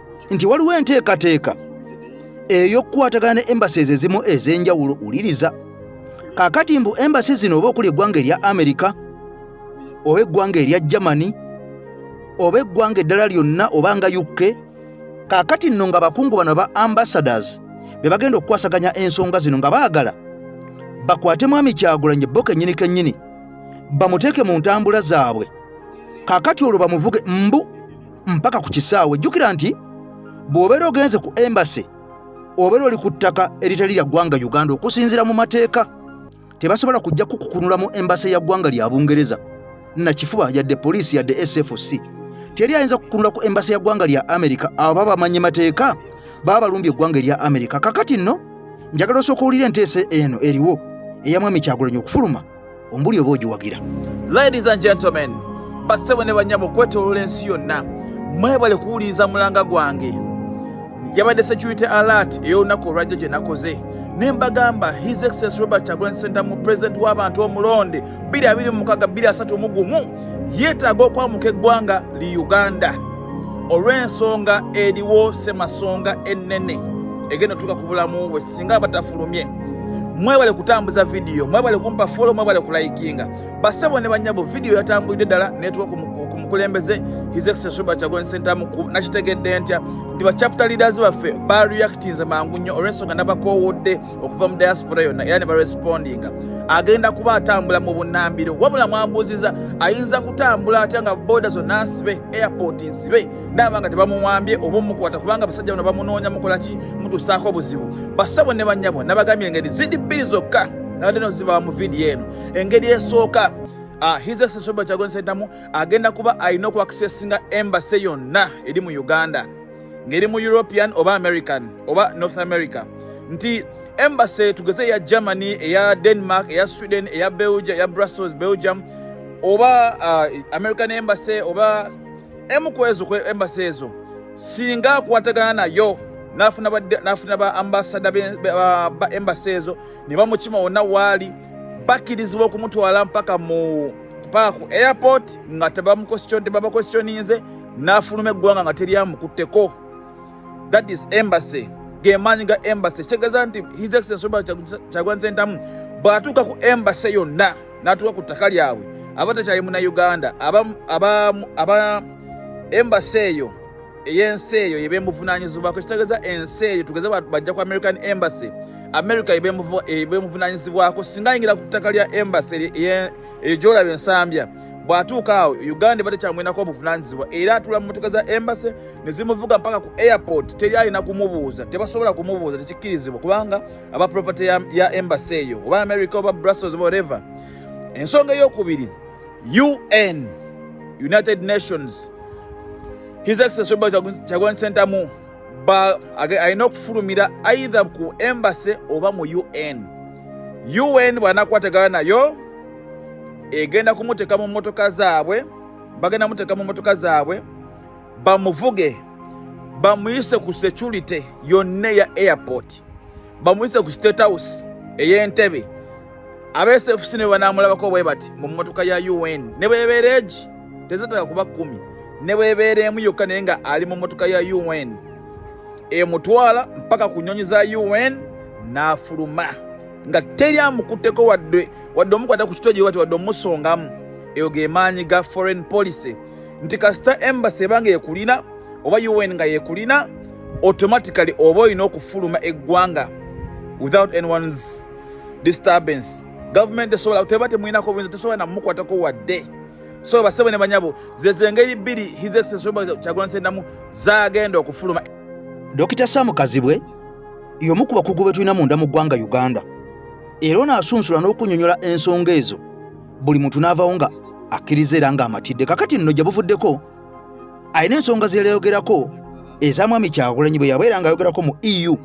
nti waliwo enteekateeka ey'okukwatagana ne embassies ezimu ez'enjawulo wuliriza kakati mbu embassy zino oba okuli eggwanga erya amerika oba eggwanga erya germany oba eggwanga eddala lyonna oba nga uk kakati nno nga bakungu bano ba ambassadors be bagenda okukwasaganya ensonga zino nga baagala bakwate mwami kyagulanyi bo kennyini kennyini bamuteeke mu ntambula zaabwe kakati olwo bamuvuge mbu mpaka ku kisaawe jjukira nti bw'obeera ogenze ku embase obeera oli ku ttaka eritali lya ggwanga uganda okusinziira mu mateeka tebasobola kujja kukukunula mu embase ya ggwanga lya bungereza nakifuba yadde poliisi yadde sfc teri ayinza kukunula ku embase ya ggwanga lya amerika abo baba bamanye mateeka baba balumbye eggwanga erya amerika kakati nno njagala osooka owulira enteesa eno eriwo eyamwami kyagulanyi okufuluma ombuli oba ogiwagira ladies and gentlemen bassebo ne banyabo okwetoloola ensi yonna mwebale kuwuliriza mulanga gwange yabadde security alert ey'olunaku olwajjo gye nakoze ne mbagamba his excellence robert chagulanyi sentamu president w'abantu omulonde 226 yeetaaga okwamuka eggwanga li uganda olw'ensonga eriwo semasonga ennene egenda otuuka ku bulamu bwe singa batafulumye mwebale kutambuza vidiyo mwebale kumpa folo mwebale kulayikinga basebo ne banyabo vidiyo yatambulidde ddala netuwa ku mukulembeze his excellence robert chagulanyi sentamu nakitegedde ntya nti ba chapter leaders baffe ba reactinze mangu nnyo olwensonga nabakoowodde okuva mu diaspora yonna era ne barespondinga agenda kuba atambula mu bunambiro wabula mwambuuziza ayinza kutambula atya nga boda zonna nsibe airport nsibe naaba nga tebamuwambye oba omukwata kubanga abasajja bano bamunoonya mukola ki mutusaako obuzibu basabo ne banyabo nabagambye engeri zidi bbiri zokka nabadde nozibawa mu vidiyo eno engeri esooka ah, hizesesoba kyagonesentamu agenda kuba alina okuakisesinga embase yonna eri mu uganda ngeri mu european oba american oba north america nti embase tugeze eya germany eya denmark eya sweden eya belgia eya brussels belgium oba uh, american embase oba emu ku ezo embasi ezo singa akwatagana nayo nafuna ba ambasada ba embasi ezo ne bamukima wonna waali bakkirizibwa okumutwala mpaka mu paka ku airport nga tebamukwesityoninze n'afuluma eggwanga nga teryamukutteko that is embassy gemaanyi ga embassy kitegeeza nti his excellence robert kyagwan sentamu bw'atuuka ku embassy yonna n'atuuka ku ttaka lyabwe aba takyali muna uganda aba embassy eyo eyensi eyo yebemuvunanyizibwako kitegeeza ensi eyo tugeze bajja ku american embassy america yebemuvunanyizibwako singa ayingira ku ttaka lya embassy eyo gyolaba ensambya bw'atuuka awo uganda eba tekyamwenako obuvunanyizibwa era atula mu motoka za embassy ne zimuvuga mpaka ku airport teri alina kumubuuza tebasobola kumubuuza tekikkirizibwa kubanga aba property ya, ya embassy eyo oba america oba brussels oba whatever ensonga eyokubiri un united nations his excellency kyagwani sentamu alina okufulumira aidha ku embassy oba mu un un bwanakwatagana nayo egenda kumuteeka mu mmotoka zaabwe bagenda muteeka mu mmotoka zaabwe bamuvuge bamuyise ku security yonna eya airport bamuyise ku state house ey'entebe absfc ne banaamulabako bwe bati mu mmotoka ya un ne bwebeera egi tezataka kuba kkumi ne bwebeera emu yokka naye nga ali mu mmotoka ya un emutwala mpaka ku nnyonyi za un n'afuluma nga teri amukutteko wadde wadde omukwata ku kitogi wati wadde omusongamu eyo ge maanyi ga foreign policy nti kasita embassy eba nga ekulina oba un nga yekulina automatically oba olina okufuluma eggwanga without anyone's disturbance gavumenti esobola teba temuyinako buyinza tesobola namukwatako wadde so basebo ne banyabo zezengeri bbiri his excellency kyagulanyi sentamu zagenda okufuluma dokita sam kazibwe y'omu ku bakugu be tulina munda mu ggwanga uganda era ono asunsula n'okunyonyola ensonga ezo buli muntu n'avawo nga akkiriza era ng'amatidde kakati nno gye buvuddeko alina ensonga ze yayogerako eza mwami kyagulanyi bwe yabeera ng'ayogerako mu eu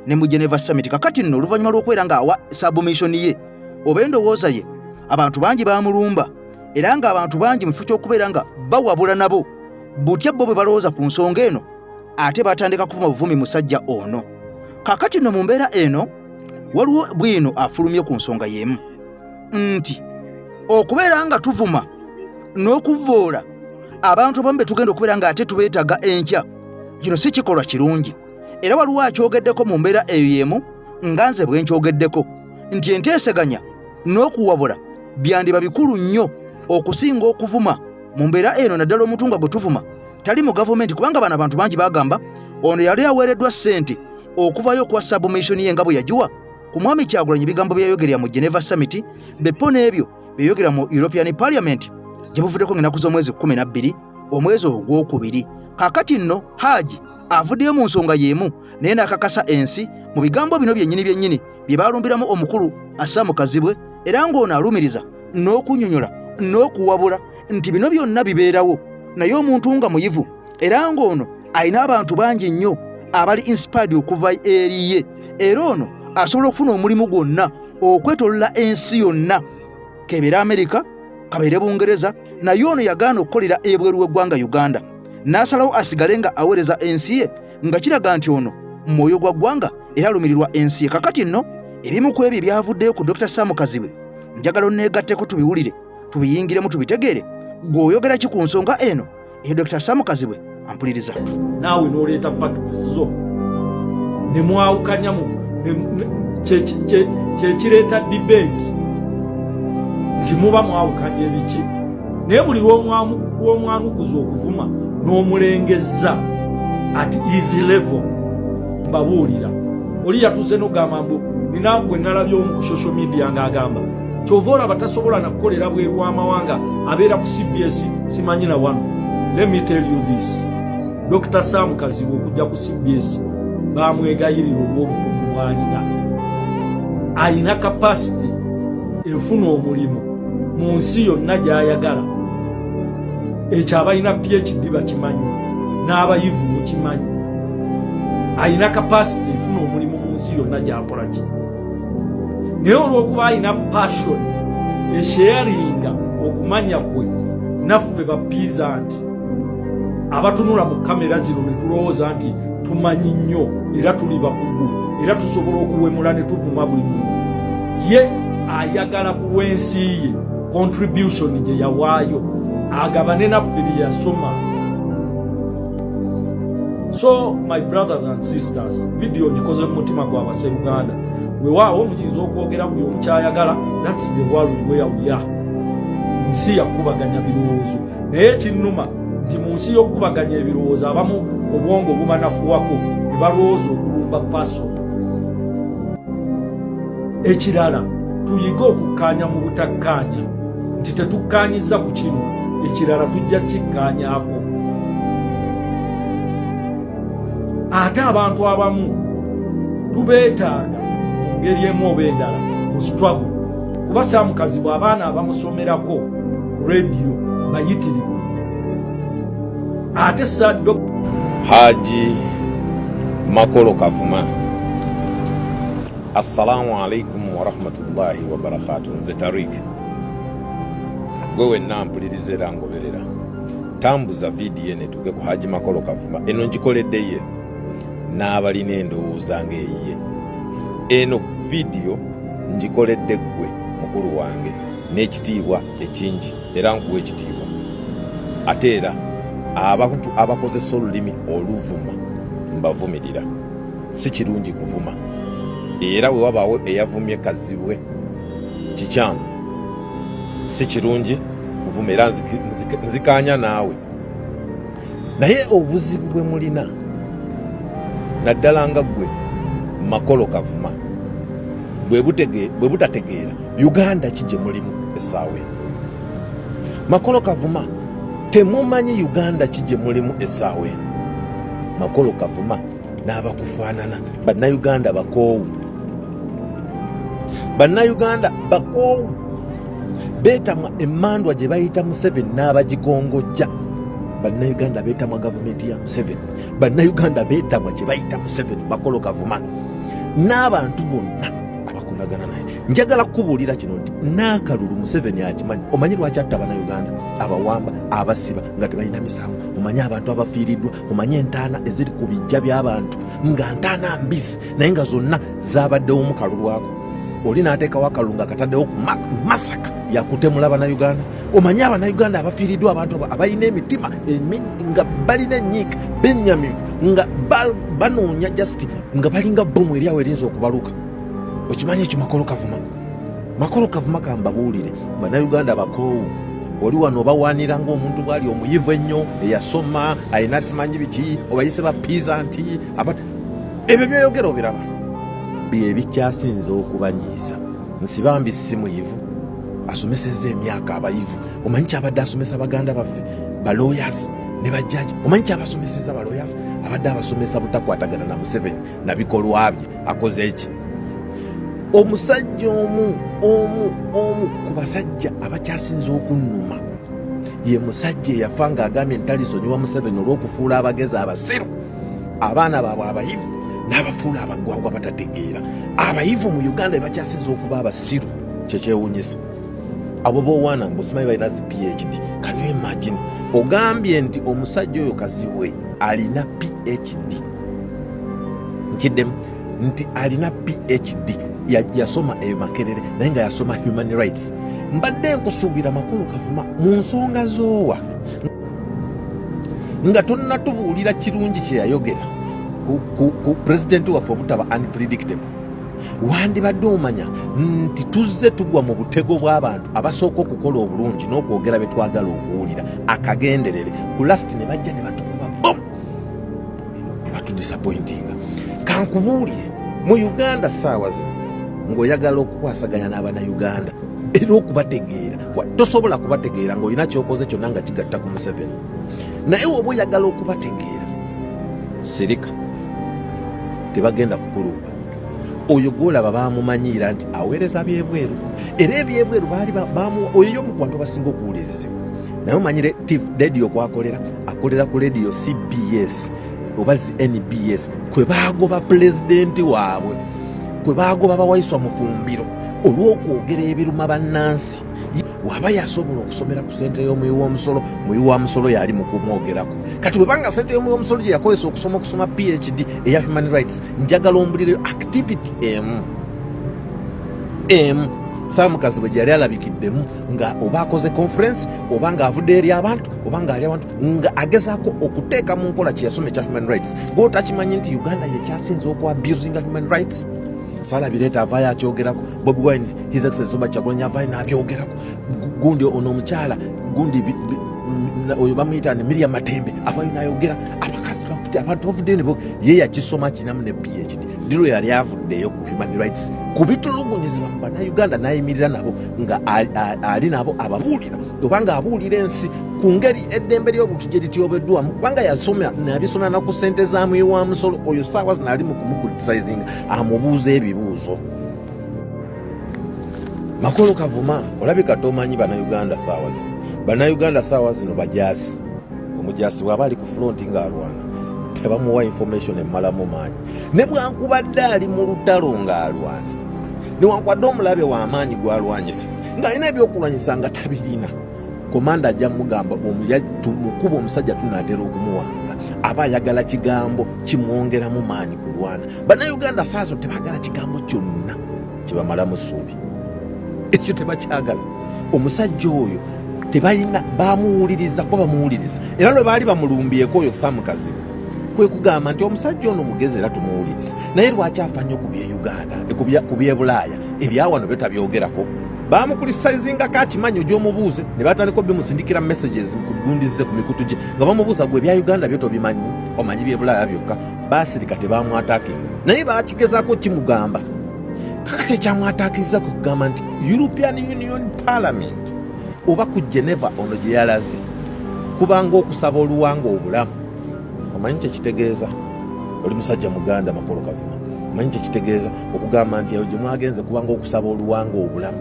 ne mu geneva summit kakati nno oluvannyuma lw'okubeera ng'awa submission ye oba endowooza ye abantu bangi bamulumba era ng'abantu bangi mu kifo ky'okubeera nga bawabula nabo butya bo bwe balowooza ku nsonga eno ate batandika kuvuma buvumi musajja ono kakati nno mu mbeera eno waliwo bwino afulumye ku nsonga y'emu nti okubeera nga tuvuma n'okuvvoola abantu abamu be tugenda okubeera nga ate tubeetaga enkya kino si kikolwa kirungi era waliwo akyogeddeko mu mbeera eyo y'emu nga nze bwe nkyogeddeko nti enteeseganya n'okuwabula byandiba bikulu nnyo okusinga okuvuma mu mbeera eno naddala omuntu nga gwe tuvuma tali mu gavumenti kubanga bano abantu bangi bagamba ono yali aweereddwa ssente okuvayo okuwa sabumishoni ye nga bwe yagiwa ku mwami kyagulanyi ebigambo byeyayogerera mu geneva summit bepo n'ebyo byeyogera mu european parliament gye buvuddeko ng'enaku z'omwezi 12 omwezi ogwokubiri kakati nno haaji avuddeyo mu nsonga y'emu naye n'akakasa ensi mu bigambo bino byennyini byennyini bye baalumbiramu omukulu asaamu kazibwe era ng'ono alumiriza n'okunyonyola n'okuwabula nti bino byonna bibeerawo naye omuntu nga muyivu era ng'ono alina abantu bangi nnyo abali inspired okuva eri ye era ono asobola okufuna omulimu gwonna okwetolola ensi yonna kebeere amerika kabeere bungereza naye ono yagaana okukolera ebweru w'eggwanga uganda n'asalawo asigale nga aweereza ensi ye nga kiraga nti ono mwoyo gwa ggwanga era alumirirwa ensi ye kakati nno ebimu ku ebyo byavuddeyo ku dr sam kazibwe njagala oneegatteko tubiwulire tubiyingiremu tubitegeere gwe oyogera ki ku nsonga eno eyo dr samu kazibwe ampuliriza naawe n'oleeta facts zo ne mwawukanyamu kyekireeta debate nti muba mwawukanya ebiki naye buli lwomwanukuza okuvuma n'omulengezza at easy level mbabuulira oli yatuuse nogamba mbu nina gwe nalabye omu ku social media ng'agamba kyova olaba tasobola nakukolera bweru wamawanga abeera ku cbs simanyi na wano let me tell you this dr sam kazibu okujja ku cbs bamwegayirira olwobukugu bwalina alina kapasiti efuna omulimu mu nsi yonna gyayagala ekyo abalina phd bakimanyi n'abayivu mukimanyi alina kapasiti efuna omulimu mu nsi yonna gyakolaki naye olwokuba alina passion esheyaringa okumanya kwe naffe bapiiza nti abatunula mu kamera zino ne tulowooza nti tumanyi nnyo era tuli bakugu era tusobola okuwemula ne tuvuma buli muntu ye ayagala ku lw'ensi ye contribution gye yawaayo agabane naffe bye yasoma so my brothers and sisters video ngikoze mu mutima gwa base uganda wewaawo muyinza okwogera buli omukyayagala thats the world where we are nsi yakubaganya birowoozo naye ekinnuma nti mu nsi y'okukubaganya ebirowoozo abamu obwongo obumanafuwako ne balowooza okulumba paso ekirala tuyige okukkaanya mu butakkaanya nti tetukkaanyizza ku kino ekirala tujja kikkaanyako ate abantu abamu tubeetaaga mu ngeri emu oba endala mu struggle kuba saamukazibwa abaana abamusomerako rediyo bayitirivu ate saddo haji makolo kavuma Assalamu alaikum warahmatullahi wabarakatu. Nze Tarik, gwe wenna mpuliriza era ngoberera, tambuza vidiyo eno etuuke ku Haji Makolo Kavuma. Eno ngikoledde ye n'abalina endowooza ng'eyiye. Eno vidiyo ngikoledde ggwe mukulu wange n'ekitiibwa ekingi era nkuwa ekitiibwa. Ate era abantu abakozesa olulimi oluvuma mbavumirira. si kirungi kuvuma era we wabaawo eyavumye kazibwe kikyamu si kirungi kuvuma era nzikaanya naawe naye obuzibu bwe mulina naddala nga ggwe makolo kavuma bwe butategeera uganda ki gye mulimu essaawa eno makolo kavuma Temumanyi Uganda ki gye mulimu essaawa eno? Makolo Kavuma n'abakufaanana bannayuganda bakoowu. Bannayuganda bakoowu beetamwa emmandwa gye bayita Museveni n'abagikongojja. Bannayuganda beetamwa gavumenti ya Museveni. Bannayuganda beetamwa kye bayita Museveni Makolo Kavuma n'abantu bonna abakolagana naye. Njagala kukubuulira kino nti n'akalulu Museveni akimanyi. Omanyi lwaki atta Bannayuganda? abawamba abasiba nga tebalina misango mumanye abantu abafiiriddwa mumanye entaana eziri ku bijja by'abantu nga ntaana mbisi naye nga zonna zabaddewo mu kalu lwako oli n'ateekawo akalulu nga kataddewo ku masaka yakutemula banauganda omanye abanauganda abafiiriddwa abantu abo abalina emitima nga balina enyiika benyamivu nga banoonya justi nga balinga bbomu eryawo erinza okubaluka okimanyi ekimakolo kavuma makolo kavuma kambabuulire bannayuganda bakoowu oli wano obawaanira ngaomuntu bwali omuyivu ennyo eyasoma alina simanyi biki obayise ba piza nti ebyo byoyogera obiraba byebikyasinze okubanyiiza nsibambi si muyivu asomeseza emyaka abayivu omanyi kyabadde asomesa baganda baffe baloyas ne bajjaji omanyi kyabasomeseza baloyas abadde abasomesa butakwatagana na museveni nabikolwa bye akoze eki omusajja omu omu omu ku basajja abakyasinza okunnuma ye musajja eyafa nga agambye ntalisonyiwa museveni olw'okufuula abagezi abasiru abaana baabwe abayivu n'abafuula abagwagwa batategeera abayivu mu uganda ebakyasinza okuba abasiru kyekyewunyisa abo bowaana mbusimayi balina zi phd kanu imagine ogambye nti omusajja oyo kazibwe alina phd nkiddemu nti alina phd yasoma eyo makerere naye nga yasoma human rights mbadde nkusuubira makulu kavuma mu nsonga zoowa nga tonnatubuulira kirungi kyeyayogera ku pulezidenti waffe omutaba unpredictable wandibadde omanya nti tuzze tugwa mu butego bw'abantu abasooka okukola obulungi n'okwogera bye twagala okuwulira akagenderere ku lasiti ne bajja ne batukuba bomu batudisappointinga kankubuulire mu uganda saawa zino ng'oyagala okukwasaganya n'abanauganda era okubategeera tosobola kubategeera ng'olina kyokoze kyonna nga kigatta ku museveni naye woba oyagala okubategeera sirika tebagenda kukulumba oyo gwolaba bamumanyiira nti aweereza byebweru era ebyebweru baali oyo yomukubantu abasinga okuwulirizibwa naye omanyi lediyo kwakolera akolera ku lediyo cbs oba nbs kwe baagoba pulezidenti waabwe kwe baagoba bawaiswa mufumbiro olw'okwogera ebiruma bannansi waba yasobola okusomera ku sente y'omuyi w'omusolo muyi wa musolo yali mu kumwogerako kati webanga sente y'omuyi w'omusolo gye yakozesa okusoma okusoma phd eya human rights njagala ombulireyo activity emu emu saamukazi bwe gyeyali alabikiddemu nga oba akoze conference oba nga avudde eri abantu oba nga ali abantu nga agezaako okuteeka mu nkola kyeyasoma ekya human rights gwotakimanyi nti uganda yekyasinze okwa abusinga human rights sala bireeta avaayo akyogerako bobi wine his excellence oba kyakulanya avaayo n'abyogerako gundi ono omukyala gundi oyo bamuyita ni miria matembe avaayo n'ayogera abakazi bafute abantu bavuddeyo nebo ye yakisoma kinamu ne phd diro yali avuddeyo ku human rights ku bitulugunyizibwa mu bannayuganda n'ayimirira nabo nga ali nabo ababuulira obanga abuulira ensi ku ngeri eddembe ly'obuntu gye lityobeddwamu kubanga yasoma nabisoma na ku ssente za muyi wa musolo oyo saawa zino ali mu kumukulitisayizinga amubuuza ebibuuzo makolo kavuma olabika tomanyi banauganda saawa zino banauganda saawa zino bajaasi omujaasi bwaba ali ku fulonti ng'alwana tebamuwa information emmalamu maanyi ne bwankubadde ali mu lutalo ng'alwana newankubadde omulabe w'amaanyi gwalwanyisa ng'alina ebyokulwanyisa nga tabirina komanda ajja mugamba omukuba omusajja tunaatera okumuwanga aba ayagala kigambo kimwongeramu maanyi kulwana bannayuganda saazo tebagala kigambo kyonna kibamalamu suubi ekyo tebakyagala omusajja oyo tebalina bamuwuliriza kuba bamuwuliriza era lwe baali bamulumbyeko oyo samukazibu kwe kugamba nti omusajja ono mugezi era tumuwuliriza naye lwaki afa nnyo ku byeyuganda ku byebulaaya ebyawano byo tabyogerako bamukulisizingako akimanyi ogyomubuuze ne batandika obimusindikira messages kugundize ku mikutu gye nga bamubuuza gwe ebya uganda byo tobimanyi omanyi byebulaaya byokka basirika tebamwatakinga naye bakigezako kimugamba kakati ekyamwatakiza kwe kugamba nti european union parliament oba ku geneva ono gye yalaze kubanga okusaba oluwanga obulamu omanyi kyekitegeeza oli musajja muganda makolo kavuma omanyi kyekitegeeza okugamba nti eyo gye mwagenze kubanga okusaba oluwanga obulamu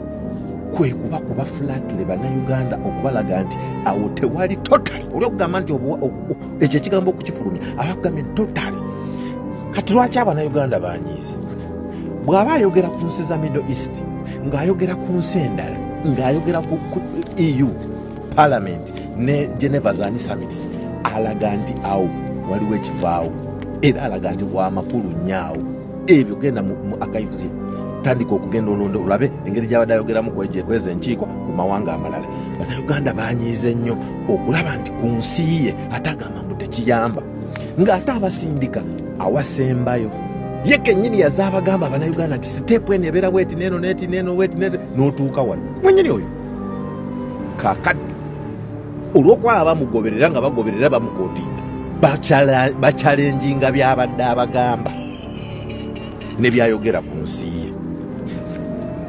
kwe kuba kuba flatle bannayuganda okubalaga nti awo tewali totale oli okugamba nti ekyo ekigambo okukifulumya abakugambye nti totale kati lwaki abannayuganda banyiiza bw'aba ayogera ku nsi za middle east ng'ayogera ku nsi endala ng'ayogera ku eu parliament ne geneva zani summits alaga nti awo waliwo ekivaawo era alaga nti wamakulu nyaawo ebyo genda mu akayivuzi tandika okugenda olonda olabe engeri gyabadde ayogeramu kweza enkiiko mu mawanga amalala banauganda banyiiza ennyo okulaba nti ku nsi ye ate agamba mbu tekiyamba ng'ate abasindika awasembayo ye kenyini yazaabagamba abanauganda nti siteepu eno ebeera bweti neeno neti neeno weti n'otuuka wano mwenyini oyo kakadde olwokuba baba bamugoberera nga bagoberera bamukotinga bakyalenjinga byabadde abagamba nebyayogera ku nsi ye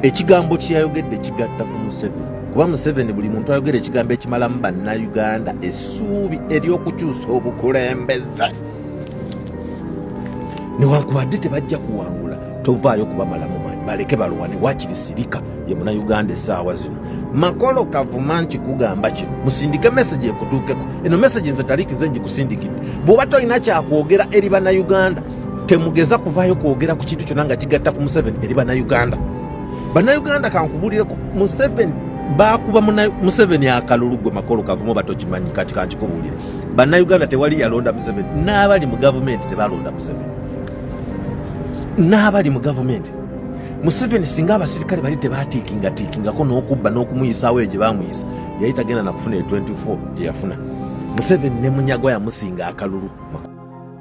ekigambo kyeyayogedde kigatta ku museveni kuba museveni buli muntu ayogera ekigambo ekimalamu bannayuganda essuubi eryokukyusa obukulembeze newankubadde tebajja kuwangula tovaayo kubamalamu maanyi baleke balwane wakiri sirika ye munauganda esaawa zino makolo kavuma nkikugamba kino musindike meseji ekutuukeko eno meseji nze talikize njikusindikidde bwoba tolina kyakwogera eri banauganda temugeza kuvaayo kwogera ku kintu kyona nga kigatta ku museveni eri banauganda banauganda kankubulireko museveni bakuba museveni akalulu gwe makolo kavumu batokimanyi kati kankikubulire banauganda tewali yalonda museveni n'abali mu gavumenti tebalonda museveni n'abali mu gavumenti museveni singa abasirikale bali tebatiikingatiikingako n'okubba n'okumuyisaawo eyo gye bamuyisa yali tagenda nakufuna e 24 gye yafuna museveni ne munyagwa yamusinga akalulu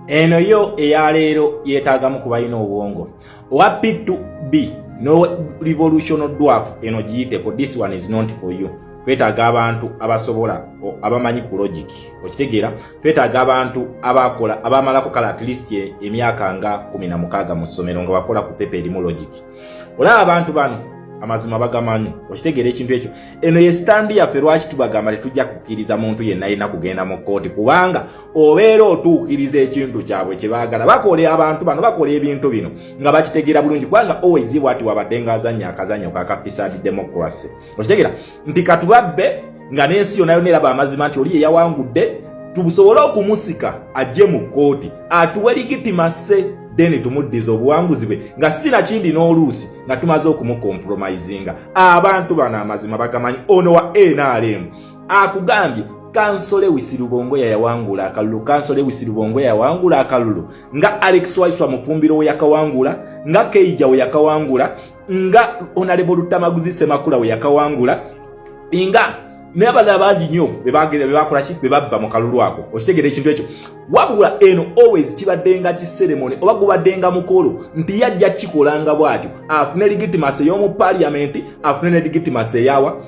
eno yo eyaleero yeetaagamu ku balina obwongo owa p2b no revolution dwarf eno giyiteko this one is not for you twetaaga abantu abasobola abamanyi ku logic okitegeera twetaaga abantu abaakola abaamalako kale at least e, emyaka nga kumi na mukaaga mu ssomero nga bakola ku pepa erimu logic olaba abantu bano amazima bagamanyi okitegeera ekintu ekyo eno ye sitandi yaffe lwaki tubagamba tetujja kukkiriza muntu yenna yena kugenda mu kkooti kubanga obeera otuukiriza ekintu kyabwe kye baagala bakola abantu bano bakola ebintu bino nga bakitegeera bulungi kubanga owezibwa ati wabadde nga azannya akazannya kakapisadi democracy okitegeera nti katubabbe nga n'ensi yona yona eraba amazima nti oli yeyawangudde tubusobole okumusika ajje mu kkooti atuwe ligitimase then tumuddiza obuwanguzi bwe nga si nakindi n'oluusi nga tumaze okumukompromisinga abantu bano amazima bagamanyi ono wa nrm akugambye kansole wisirubongo yayawangula akalulu kansole wisirubongo yayawangula akalulu nga alex waiswa mufumbiro weyakawangula nga keija weyakawangula nga onalebo lutamaguzi semakula we yakawangula nga nabalala bangi nyo bebakolaki bebabba mu kalulu ako okitegera ekintu ekyo wabula eno always kibaddenga kiseremone oba gubaddenga mukolo nti yajja kikolanga bwatyo afune legitimacy ey'omu paliamenti afune ne legitimacy eyawa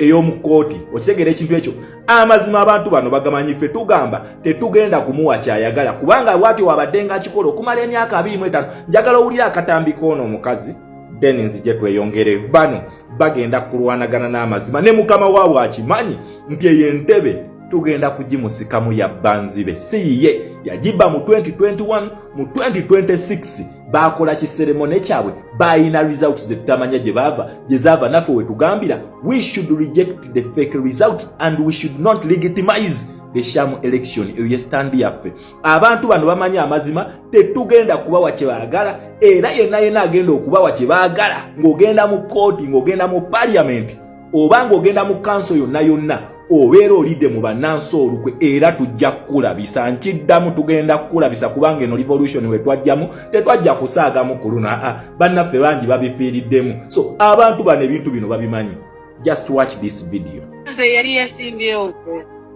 ey'omu kooti okitegera ekintu ekyo amazima abantu bano bagamanyi ffe tugamba tetugenda kumuwa kyayagala kubanga bwatyo wabadde nga akikola okumala emyaka abiri mu etaano njagala owulira akatambi koono omukazi then nzije tweyongere bano bagenda kulwanagana n'amazima ne mukama waabwe akimanyi nti eyo entebe tugenda kugimusikamu yabbanzibe si yiye yagibba mu 2021 mu 2026 baakola kiseremone kyabwe baalina results zetutamanya gye baava gye zaava naffe wetugambira we should reject the fake results and we should not legitimize the sham election eyo ye standi yaffe abantu bano bamanyi amazima tetugenda kubawa kye baagala era yenna yenna agenda okubawa kye baagala ng'ogenda mu kooti ng'ogenda mu paliamenti oba ng'ogenda mu kanso yonna yonna obeera olidde mu bannansi olukwe era tujja kukulabisa nkiddamu tugenda kukulabisa kubanga eno revolution we twajjamu tetwajja kusaagamu ku luno aa bannaffe bangi babifiiriddemu so abantu bano ebintu bino babimanyi just watch this video nze yali yasimbyewo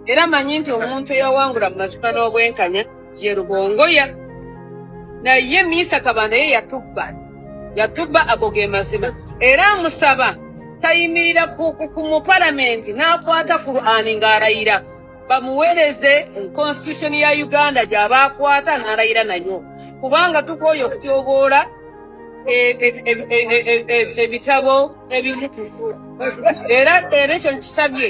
era manyi nti omuntu eyawangula mu mazuka n'obwenkanya ye Rubongoya naye Miisa Kabanda ye yatubba yatubba ago ge mazima era amusaba tayimirira ku mupalamenti n'akwata Kur'ani ng'alayira bamuwereze constitution ya Uganda gy'aba akwata n'alayira nayo kubanga tukooye okutyoboola ebitabo ebimu era era ekyo nkisabye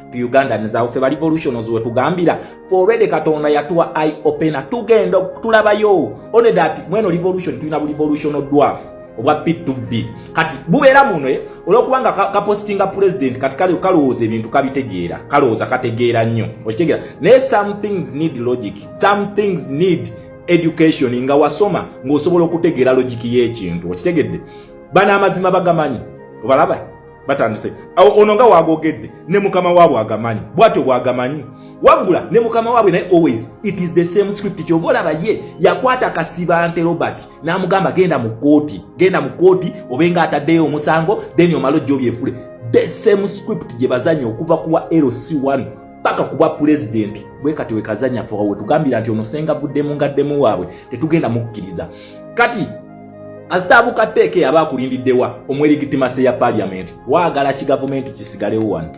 ugandans awo fe ba revolutions wetugambira fe already katonda yatuwa i opena tugenda tulabayo one that mweno revolution tulina bu revolutional dwarf obwa p2b kati bubeera muno eh, olwokubanga kapositinga ka president kati kale kalowooza ebintu kabitegeera kalowooza kategeera nnyo okitegeera naye some things need logic some things need education nga wasoma ng'osobola okutegeera logiki y'ekintu okitegedde bano amazima bagamanyi obalaba batandise awo ono nga wagogedde ne mukama waabwe agamanyi bwatyo bwagamanyi wabula ne mukama waabwe naye always it is the same script kyova olaba ye yakwata kasibante robert n'amugamba genda mu kooti genda mu kooti obenga ataddeyo omusango then omala ojja obyefule the same script gye bazanya okuva kuwa lc1 paka kuba pulezidenti bwe kati wekazanya fe wetugambira nti omusenga vuddemu ngaddemu waabwe tetugenda mukkiriza kati Asitaabuka tteeka eyaba akulindiddewa omwerigitimase ya paaliyamenti waagala ki gavumenti kisigalewo wano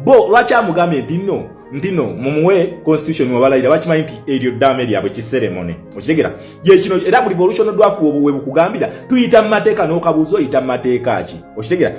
bo lwaki amugambye nti no nti no mumuwe constitution wabalayira bakimanyi nti eryo ddaame lyabwe kiseremone okitegera gyekino era buli volution dwafu obuwe bukugambira tuyita mu mateeka n'okabuuza oyita mu mateeka ki okitegera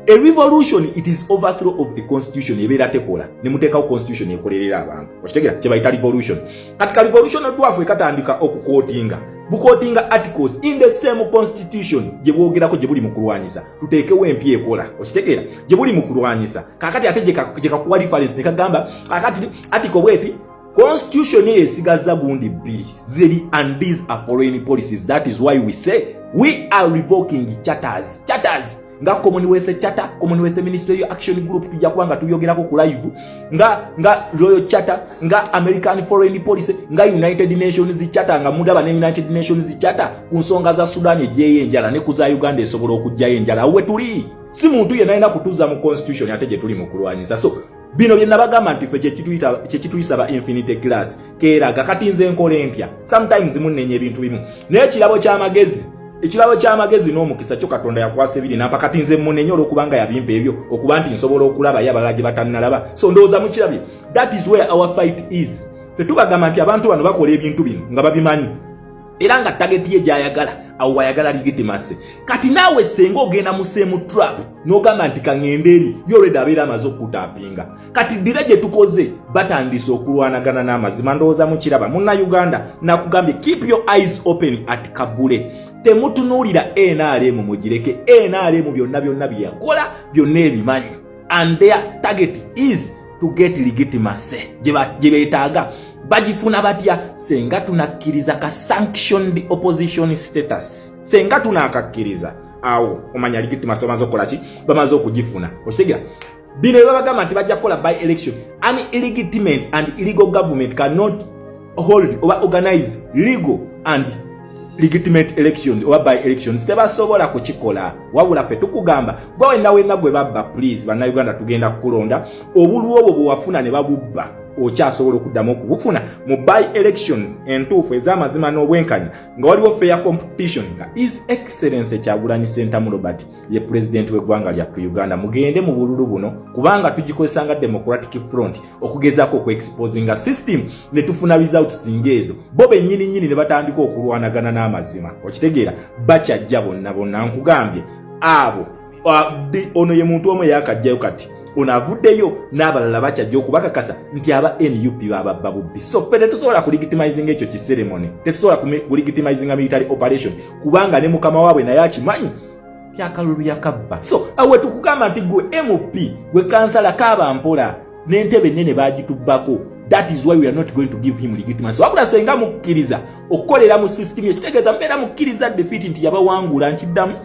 a revolution it is overthrow of the constitution ebeera tekola ne muteekawo constitution ekolerera abantu okitegera kyebayita revolution kati ka revolution dwafu ekatandika okukotinga bukotinga articles in the same constitution gye bwogerako gye buli mu kulwanyisa tuteekewo empya ekola okitegeera gye buli mu kulwanyisa kakati ate gye kakuwa reference ne kagamba kakati article bweti constitution eyo esigaza gundi bbiri ziri and these are foreign policies that is why we say we are revoking charters charters nga commonwealth charter commonwealth ministerial action group tujja kuba nga tubyogerako ku live nga nga royal charter nga american foreign policy nga united nations charter nga mugaba ne united nations charter ku nsonga za sudan ejeyo enjala ne ku za uganda esobola okujjayo enjala awo wetuli si muntu yenna alina kutuza mu constitution ate gye tuli mu kulwanyisa so bino bye nabagamba nti ffe kyekituyisa ba infinity glass keeraga kati nze nkola empya sometimes munnenya ebintu bimu naye ekirabo ky'amagezi ekirabo ky'amagezi n'omukisa kyo katonda yakwasa ebiri nampa kati nze munenye olwokubanga yabimpa ebyo okuba nti nsobola okulaba ye abalala gye batannalaba so ndowooza mukirabye that is where our fight is ffe tubagamba nti abantu bano bakola ebintu bino nga babimanyi era nga tageti ye gyayagala awo wayagala ligitimase kati naawe senga ogenda museemu trap n'ogamba nti kaŋŋenda eri yoreda abeera amaze okukutaapinga kati ddira gye tukoze batandise okulwanagana n'amazima ndowooza mukiraba munna uganda nakugambye keep your eyes open at kavule temutunuulira nrm mugireke nrm byonna byonna byeyakola byonna ebimanyi and their target is to get legitimacy gye beetaaga bagifuna batya senga tunakkiriza ka sanctioned opposition status senga tunakakkiriza awo omanya legitimacy bamaze okukola ki bamaze okugifuna okitegera bino ebabagamba nti bajja kukola by election an illegitimate and illegal government cannot hold oba organize legal and legitimate election oba by elections tebasobola kukikola wabula ffe tukugamba gwe wenna wenna gwe babba please bannayuganda tugenda kukulonda obulwa obwo bwewafuna ne babubba okyasobola okuddamu okubufuna mu by elections entuufu ez'amazima n'obwenkanya nga waliwo fair competition nga is excellence ekyagulanyi sentamu robert ye pulezidenti w'eggwanga lyattu uganda mugende mu bululu buno kubanga tugikozesa nga democratic front okugezaako okuexposinga system ne tufuna results ngaezo bo bennyini nnyini ne batandika okulwanagana n'amazima okitegeera bakyajja bonna bonna nkugambye abo ono ye muntu omu eyakajjayo kati ono avuddeyo n'abalala bakyajja okubakakasa nti aba nup bababba bubbi so ffe tetusobola kuligitimizinga ekyo kiseremone tetusobola kuligitimizinga military operation kubanga ne mukama waabwe naye akimanyi kyakalulu yakabba so awe tukugamba nti gwe mp gwe kansala kaaba mpola n'entebe ennene baagitubbako that is why we are not going to give him legitimacy wabula senga mukkiriza okukolera mu system ekitegeeza mbeera mukkiriza defeat nti yabawangula nkiddamu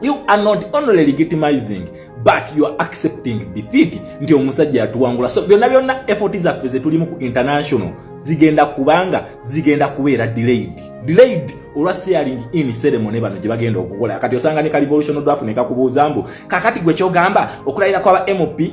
You are not only legitimizing but you are accepting defeat nti omusajja yatuwangula so byonna byonna effort zaffe zetulimu ku international zigenda kubanga zigenda kubeera delayed delayed olwa sharing in ceremony bano gye bagenda okukola kati osanga ne ka revolution draft ne kakubuuza mbu kakati gwe kyogamba okulayira kwaba mp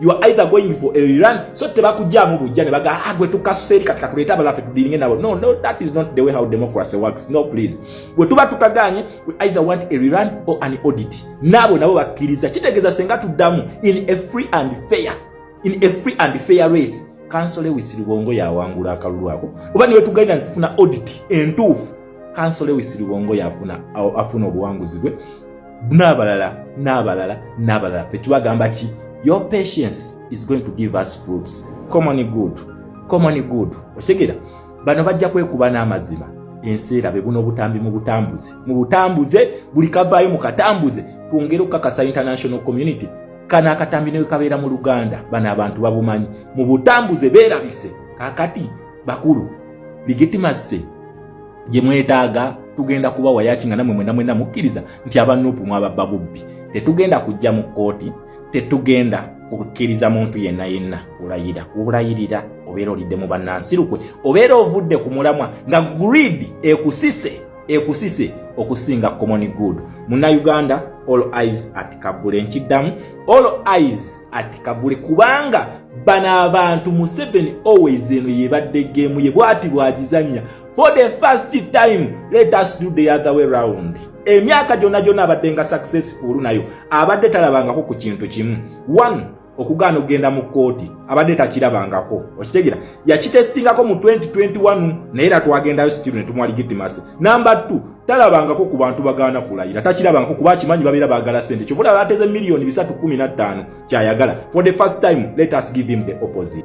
you are either going for a rerun so tebakujjamu bujja ne baga ah gwe tukasusa eri kati katuleeta abalala fe tudiringe nabo no no that is not the way how democracy works no please gwe tuba tukaganye we either want a rerun or an audit naabo nabo bakkiriza kitegeeza senga tuddamu in a free and fair in a free and fair race kansole wisirubongo yawangula akalulu ako oba niwe tugalina ntufuna audit entuufu kansole wisirubongo yafuna afuna obuwanguzi bwe n'abalala n'abalala n'abalala ffe tubagamba ki your patience is going to give us fruits common good common good okitegera bano bajja kwekuba n'amazima ensi erabe buno obutambi mu butambuze mu butambuze buli kavaayo mu katambuze twongere okukakasa international community kano akatambi newe kabeera mu luganda bano abantu babumanyi mu butambuze beerabise kakati bakulu legitimacy gye mwetaaga tugenda kuba wayaki nga namwe mwena mwena mukkiriza nti aba nupu mwababba bubbi tetugenda kujja mu kkooti tetugenda kukkiriza muntu yenna yenna kulayira kulayirira obeera olidde mu bannansirukwe obeera ovudde ku mulamwa nga greed ekusise ekusise okusinga common good munnayuganda all eyes at kavule nkiddamu all eyes at kavule kubanga bano abantu museveni always eno yebadde geemu ye bwati bwagizanya for the first time let us do the other way round emyaka gyona gyona abadde nga successful nayo abadde talabangako ku kintu kimu one okugaana okugenda mu kkooti abadde takirabangako okitegera yakitestingako mu 2021 naye era twagendayo stiru ne tumwa legitimacy namba 2 talabangako ku bantu bagaana kulayira takirabangako kuba akimanyi babeera baagala sente kyovula bateze miliyoni 315 kyayagala for the first time let us give him the opposite